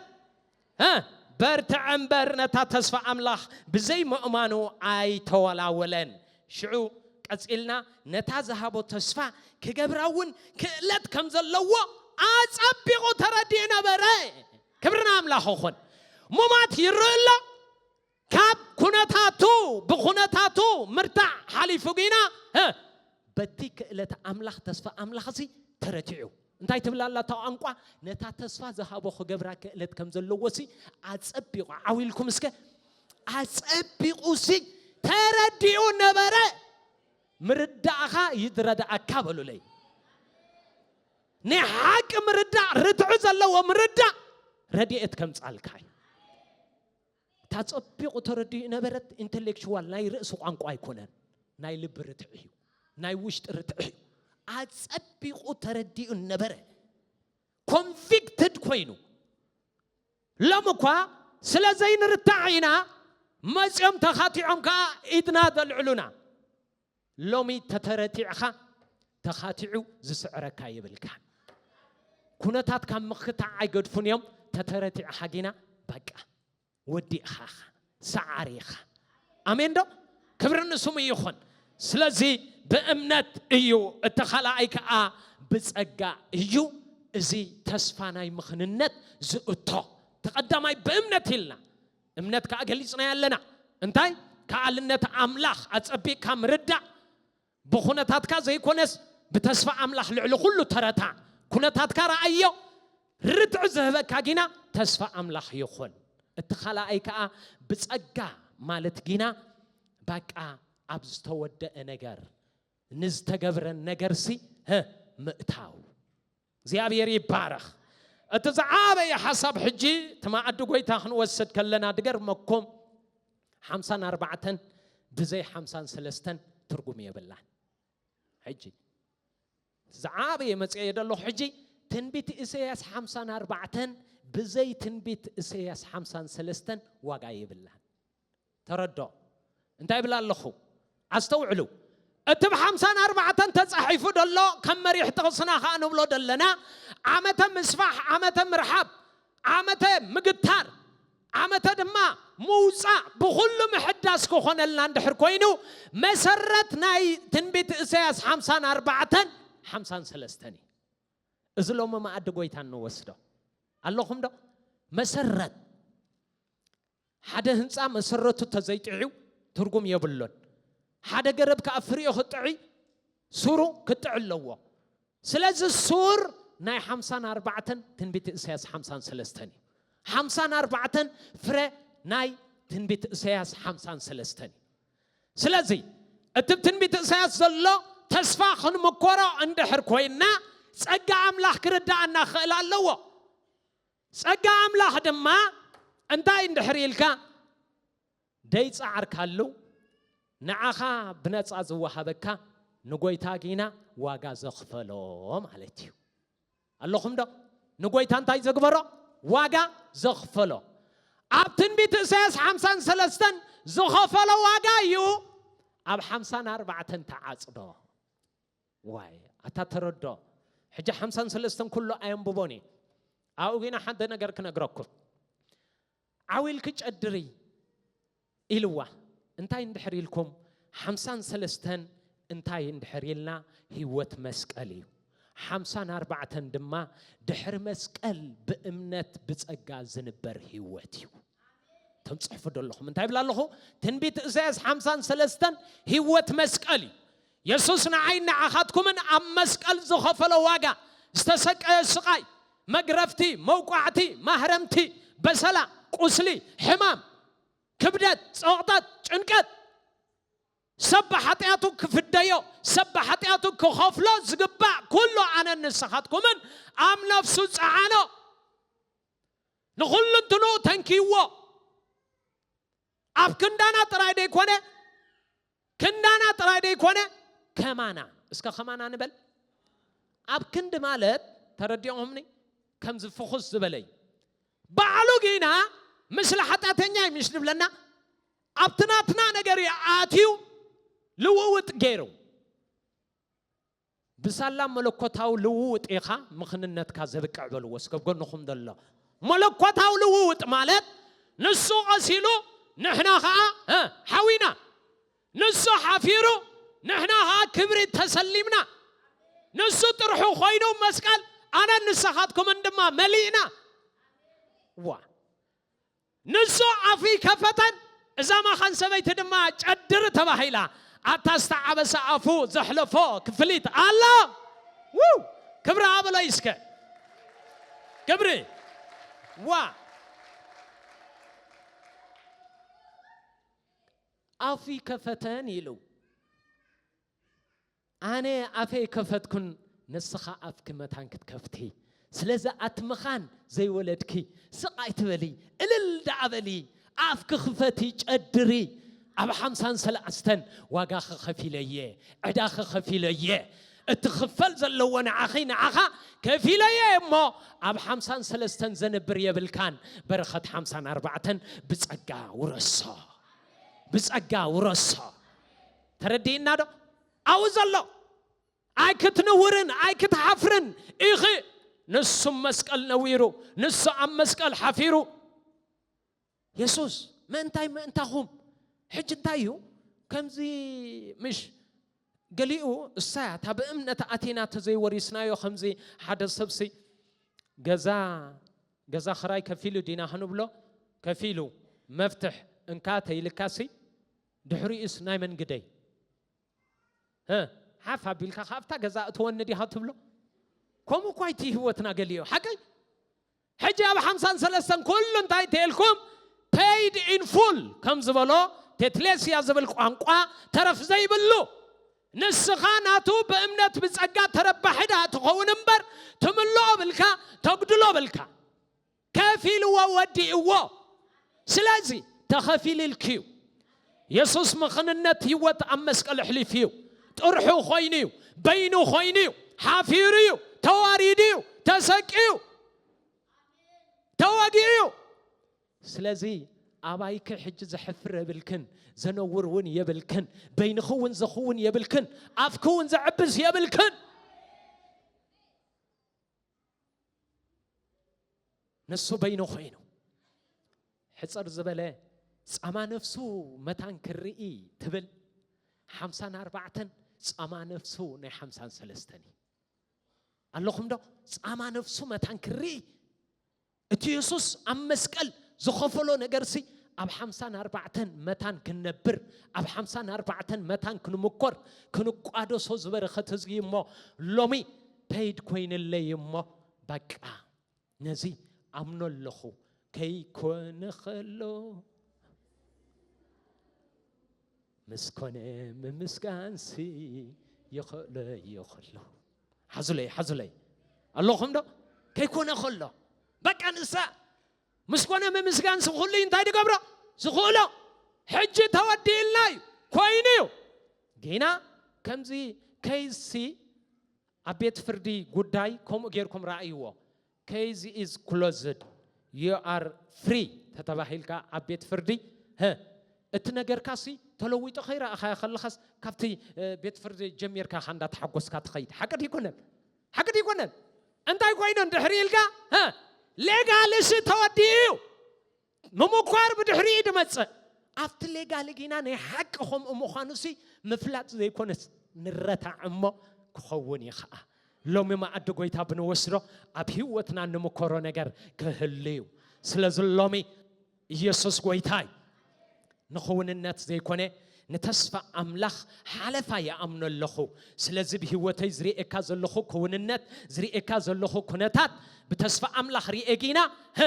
እ በርትዐ እምበር ነታ ተስፋ ኣምላኽ ብዘይ ምእማኑ ኣይተወላወለን። ሽዑ ቀጺልና ነታ ዝሃቦ ተስፋ ክገብራ እውን ክእለት ከም ዘለዎ ኣጸቢቑ ተረዲኡ ነበረ። ክብሪ ንኣምላኽ ይኹን። ሙማት ይርእ ኣሎ፣ ካብ ኩነታቱ ብኩነታቱ ምርታዕ ሓሊፉ ግና ህ በቲ ክእለት ኣምላኽ ተስፋ ኣምላኽሲ ተረቲዑ እንታይ ትብል ኣላ እታ ቋንቋ ነታ ተስፋ ዝሃቦ ክገብራ ክእለት ከም ዘለዎሲ ኣጸቢቑ ዓው ኢልኩም እስከ ኣጸቢቑሲ ተረዲኡ ነበረ ምርዳእኻ ይድረዳእካ በሉለይ ናይ ሓቂ ምርዳእ ርትዑ ዘለዎ ምርዳእ ረድኤት ከምጻልካ እዩ ታጸቢቑ ተረዲኡ ነበረት ኢንተሌክቹዋል ናይ ርእሲ ቋንቋ ኣይኮነን ናይ ልቢ ርትዒ እዩ ናይ ውሽጢ ርትዒ እዩ ኣጸቢቑ ተረዲኡ ነበረ ኮንቪክትድ ኮይኑ ሎም እኳ ስለ ዘይንርታዕ ኢና መፅኦም ተኻቲዖም ከዓ ኢድና ዘልዕሉና ሎሚ ተተረቲዕኻ ተኻቲዑ ዝስዕረካ የብልካን። ኩነታት ካብ ምክታዕ ኣይገድፉን እዮም። ተተረቲዕኻ ጊና በቃ ወዲእኻ ኢኻ ሰዓሪ ኢኻ። ኣሜን ዶ? ክብሪ ንስሙ ይኹን። ስለዚ ብእምነት እዩ፣ እቲ ካልኣይ ከዓ ብፀጋ እዩ። እዚ ተስፋ ናይ ምኽንነት ዝእቶ ተቐዳማይ ብእምነት ኢልና እምነት ከኣ ገሊጽናዮ ኣለና። እንታይ? ከኣልነት ኣምላኽ ኣጸቢቕካ ምርዳእ፣ ብኩነታትካ ዘይኮነስ ብተስፋ ኣምላኽ ልዕሊ ኩሉ ተረታዕ። ኩነታትካ ረኣዮ፣ ርትዒ ዝህበካ ጊና ተስፋ ኣምላኽ ይኹን። እቲ ካልኣይ ከኣ ብጸጋ ማለት ጊና ባቃ ኣብ ዝተወደኣ ነገር፣ ንዝተገብረ ነገርሲ ምእታው። እግዚኣብሔር ይባረኽ እቲ ዝዓበየ ሓሳብ ሕጂ እቲ መኣዲ ጎይታ ክንወስድ ከለና ድገርመኩም ሓምሳን ኣርባዕተን ብዘይ ሓምሳን ሰለስተን ትርጉም የብላን ሕጂ ዝዓበየ መፅኤ ደለኹ ሕጂ ትንቢት እሰያስ ሓምሳን ኣርባዕተን ብዘይ ትንቢት እሰያስ ሓምሳን ሰለስተን ዋጋ የብላን ተረድኦ እንታይ እብል ኣለኹ ኣስተውዕሉ እቲ ብ ሓምሳን ኣርባዕተን ተጻሒፉ ደሎ ከም መሪሕ ጥቕስና ከኣ ንብሎ ደለና ዓመተ ምስፋሕ ዓመተ ምርሓብ ዓመተ ምግታር ዓመተ ድማ ምውጻእ ብኹሉ ምሕዳስ ክኾነልና እንድሕር ኮይኑ መሰረት ናይ ትንቢት እሰያስ ሓምሳን ኣርባዕተን ሓምሳን ሰለስተን እዩ እዚ ሎሚ መኣዲ ጎይታ እንወስዶ ኣለኹም ዶ መሰረት ሓደ ህንጻ መሰረቱ ተዘይጥዒው ትርጉም የብሉን። ሓደ ገረብ ከኣ ፍሪኡ ክጥዒ ሱሩ ክጥዒ ኣለዎ። ስለዚ ሱር ናይ ሓምሳን ኣርባዕተን ትንቢት እሰያስ ሓምሳን ሰለስተን እዩ። ሓምሳን ኣርባዕተን ፍረ ናይ ትንቢት እሰያስ ሓምሳን ሰለስተን እዩ። ስለዚ እቲ ብ ትንቢት እሰያስ ዘሎ ተስፋ ክንምኮሮ እንድሕር ኮይንና ጸጋ ኣምላኽ ክርድኣና ክኽእል ኣለዎ። ጸጋ ኣምላኽ ድማ እንታይ እንድሕር ኢልካ ደይጸዓርካሉ ንዓኻ ብነጻ ዝወሃበካ ንጎይታ ጊና ዋጋ ዘኽፈሎ ማለት እዩ። ኣለኹም ዶ? ንጎይታ እንታይ ዘግበሮ? ዋጋ ዘኽፈሎ። ኣብ ትንቢት እሳያስ ሓምሳን ሰለስተን ዝኸፈሎ ዋጋ እዩ ኣብ ሓምሳን ኣርባዕተን ተዓጽዶ። ዋይ ኣታ ተረዶ ሕጂ ሓምሳን ሰለስተን ኩሉ ኣየንብቦን እየ ኣብኡ ግና ሓደ ነገር ክነግረኩም ዓው ኢልኪ ጨድሪ ኢልዋ እንታይ እንድሕር ኢልኩም ሓምሳን ሰለስተን እንታይ እንድሕር ኢልና ህይወት መስቀል እዩ ሓምሳን ኣርባዕተን ድማ ድሕሪ መስቀል ብእምነት ብፀጋ ዝንበር ህይወት እዩ እቶም ፅሕፉ ደለኹም እንታይ ይብላ ኣለኹ ትንቢት እሳያስ ሓምሳን ሰለስተን ህይወት መስቀል እዩ የሱስ ንዓይን ንዓኻትኩምን ኣብ መስቀል ዝኸፈሎ ዋጋ፣ ዝተሰቀዮ ስቓይ፣ መግረፍቲ፣ መውቃዕቲ፣ ማህረምቲ፣ በሰላ፣ ቁስሊ፣ ሕማም፣ ክብደት፣ ጸቕጠት፣ ጭንቀት፣ ሰብ ብሓጢኣቱ ክፍደዮ፣ ሰብ ብሓጢኣቱ ክኸፍሎ ዝግባእ ኩሉ ኣነን ንስኻትኩምን ኣብ ነፍሱ ጸዓኖ። ንኹሉንትንኡ ተንኪዩዎ። ኣብ ክንዳና ጥራይ ደይኮነ ክንዳና ጥራይ ደይኮነ ከማና እስከ ከማና ንበል ኣብ ክንዲ ማለት ተረዲኦምኒ ከምዚ ፍኹስ ዝበለይ ባዕሉ ግና ምስሊ ሓጢኣተኛ እዩ ምሽ ዝብለና ኣብቲ ናትና ነገር ኣትዩ ልውውጥ ገይሩ ብሳላ መለኮታዊ ልውውጥ ኢኻ ምኽንነትካ ዘብቅዕ በልዎ እስከ ጎንኹም ዘሎ። መለኮታዊ ልውውጥ ማለት ንሱ ቐሲሉ ንሕና ኸኣ ሓዊና፣ ንሱ ሓፊሩ ንሕና ኸኣ ክብሪ ተሰሊምና፣ ንሱ ጥርሑ ኮይኑ መስቀል ኣነን ንሰኻትኩምን ድማ መሊእና። ዋእ! ንሱ ኣፉ ይከፈተን እዛ ማኻን ሰበይቲ ድማ ጨድሪ ተባሂላ ኣብታ ዝተዓበሰ ኣፉ ዘሕለፎ ክፍሊት ኣላ ውው ክብሪ ሃበለይ እስከ ክብሪ ዋ ኣፉ ይከፈተን ኢሉ ኣነ ኣፈይ ከፈትኩን ንስኻ ኣፍኪ መታን ክትከፍቲ ስለዚ ኣቲ ምኻን ዘይወለድኪ ስቅ ኣይትበሊ እልል ዳኣ በሊ ኣፍኪ ክፈቲ ጨድሪ ኣብ ሓምሳን ሰላኣስተን ዋጋኺ ከፊለ እየ ዕዳኺ ከፊለ እየ እቲ ክፈል ዘለዎ ንዓኺ ንዓኻ ከፊለ እየ እሞ ኣብ ሓምሳን ሰለስተን ዘንብር የብልካን በረኸት ሓምሳን ኣርባዕተን ብጸጋ ውረሶ ብጸጋ ውረሶ ተረዲእና ዶ? ኣብኡ ዘሎ ኣይክትንውርን ኣይክትሓፍርን ኢኺ። ንሱ መስቀል ነዊሩ፣ ንሱ ኣብ መስቀል ሓፊሩ። የሱስ ምእንታይ ምእንታኹም ሕጂ እንታይ እዩ ከምዚ ምሽ ገሊኡ እሳያ እታ ብእምነት ኣቲና ተዘይወሪስናዮ ከምዚ ሓደ ሰብሲ ገዛ ገዛ ክራይ ከፊሉ ዲና ክንብሎ ከፊሉ መፍትሕ እንካ ተይልካሲ ድሕሪኡስ ናይ መን ግደይ? ሀ ሓፍ ኣቢልካ ካብታ ገዛ እትወኒ ዲኻ ትብሎ? ከምኡ እኳ እቲ ህይወትና ገሊኦ ሓቀይ ሕጂ ኣብ ሓምሳን ሰለስተን ኩሉ እንታይ ተልኩም paid in full ከም ዝበሎ ቴትሌስያ ዝብል ቋንቋ ተረፍ ዘይብሉ ንስኻ ናቱ ብእምነት ብጸጋ ተረባሒ ድኣ ትኸውን እምበር ትምልኦ ብልካ ተጉድሎ ብልካ ከፊልዎ ወዲእዎ ስለዚ ተኸፊልልኪ እዩ የሱስ ምኽንነት ህይወት ኣብ መስቀል ኣሕሊፉ እዩ ጥርሑ ኮይኑ እዩ በይኑ ኮይኑ እዩ ሓፊሩ እዩ ተዋሪዱ እዩ ተሰቂዩ ተወጊኡ እዩ ስለዚ ኣባይኪ ሕጂ ዘሕፍር የብልክን ዘነውር እውን የብልክን በይንኺ እውን ዘኽውን የብልክን ኣፍኪ እውን ዘዕብስ የብልክን ንሱ በይኑ ኮይኑ ሕፅር ዝበለ ፃማ ነፍሱ መታን ክርኢ ትብል ሓምሳን ኣርባዕተን ፃማ ነፍሱ ናይ ሓምሳን ሰለስተን እዩ ኣለኹም ዶ ፃማ ነፍሱ መታን ክርኢ እቲ የሱስ ኣብ መስቀል ዝኸፈሎ ነገርሲ ኣብ ሓምሳን ኣርባዕተን መታን ክንነብር ኣብ ሓምሳን ኣርባዕተን መታን ክንምኮር ክንቋደሶ ዝበረኸት ህዝቢ እሞ ሎሚ ፐይድ ኮይንለይ እሞ በቃ ነዚ ኣምኖ ኣለኹ ከይኮነ ከሎ ምስ ኮነ ምምስጋንሲ ይኽእሎ እዮ ከሎ ሓዙለይ ሓዙለይ ኣለኹም ዶ ከይኮነ ከሎ በቃ ንሳ ምስ ኮነ ምምስጋን ስብኹሉይ እንታይ ድገብሮ ዝኽእሎ ሕጂ ተወዲእልና እዩ ኮይኑ እዩ ጌና ከምዚ ከይሲ ኣብ ቤት ፍርዲ ጉዳይ ከምኡ ጌርኩም ራእይዎ ከይዚ ኢዝ ክሎዝድ ዩ ኣር ፍሪ ተተባሂልካ ኣብ ቤት ፍርዲ እቲ ነገርካሲ ተለዊጦ ከይረኣኻዮ ከለኻስ ካብቲ ቤት ፍርዲ ጀሚርካ እንዳ ተሓጎስካ ትኸይድ ሓቂ ድይኮነን ሓቂ ድዩ ኣይኮነን? እንታይ ኮይኑ እንድሕሪ ኢልካ ሀ ሌጋልሲ ተወዲኡ እዩ ምምኳር ብድሕሪ እዩ ድመፅእ ኣብቲ ሌጋሊ ጊና ናይ ሓቂ ከምኡ ምዃኑ ሲ ምፍላጥ ዘይኮነስ ንረታዕ እሞ ክኸውን እዩ ከዓ ሎሚ መኣዲ ጎይታ ብንወስዶ ኣብ ህይወትና ንምኮሮ ነገር ክህሉ እዩ ስለዚ ሎሚ ኢየሱስ ጎይታ እዩ። ንክውንነት ዘይኮነ ንተስፋ ኣምላኽ ሓለፋ ይኣምኖ ኣለኹ። ስለዚ ብህይወተይ ዝርኤካ ዘለኹ ክውንነት ዝርኤካ ዘለኹ ኩነታት ብተስፋ ኣምላኽ ርኤ ጊና ህ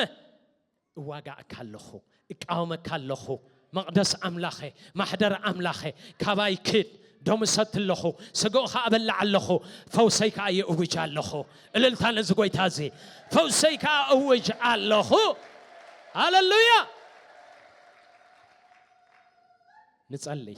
እዋጋእካ ኣለኹ እቃወመካ ኣለኹ መቕደስ ኣምላኸ ማሕደር ኣምላኸ ካባይ ክድ ደሙ እሰቲ ኣለኹ፣ ስግኡ ኸኣ እበልዕ ኣለኹ፣ ፈውሰይ ከኣ ይእውጅ ኣለኹ። እልልታ ነዚ ጐይታ እዚ! ፈውሰይ ከኣ እእውጅ ኣለኹ። ሃለሉያ! ንጸልይ።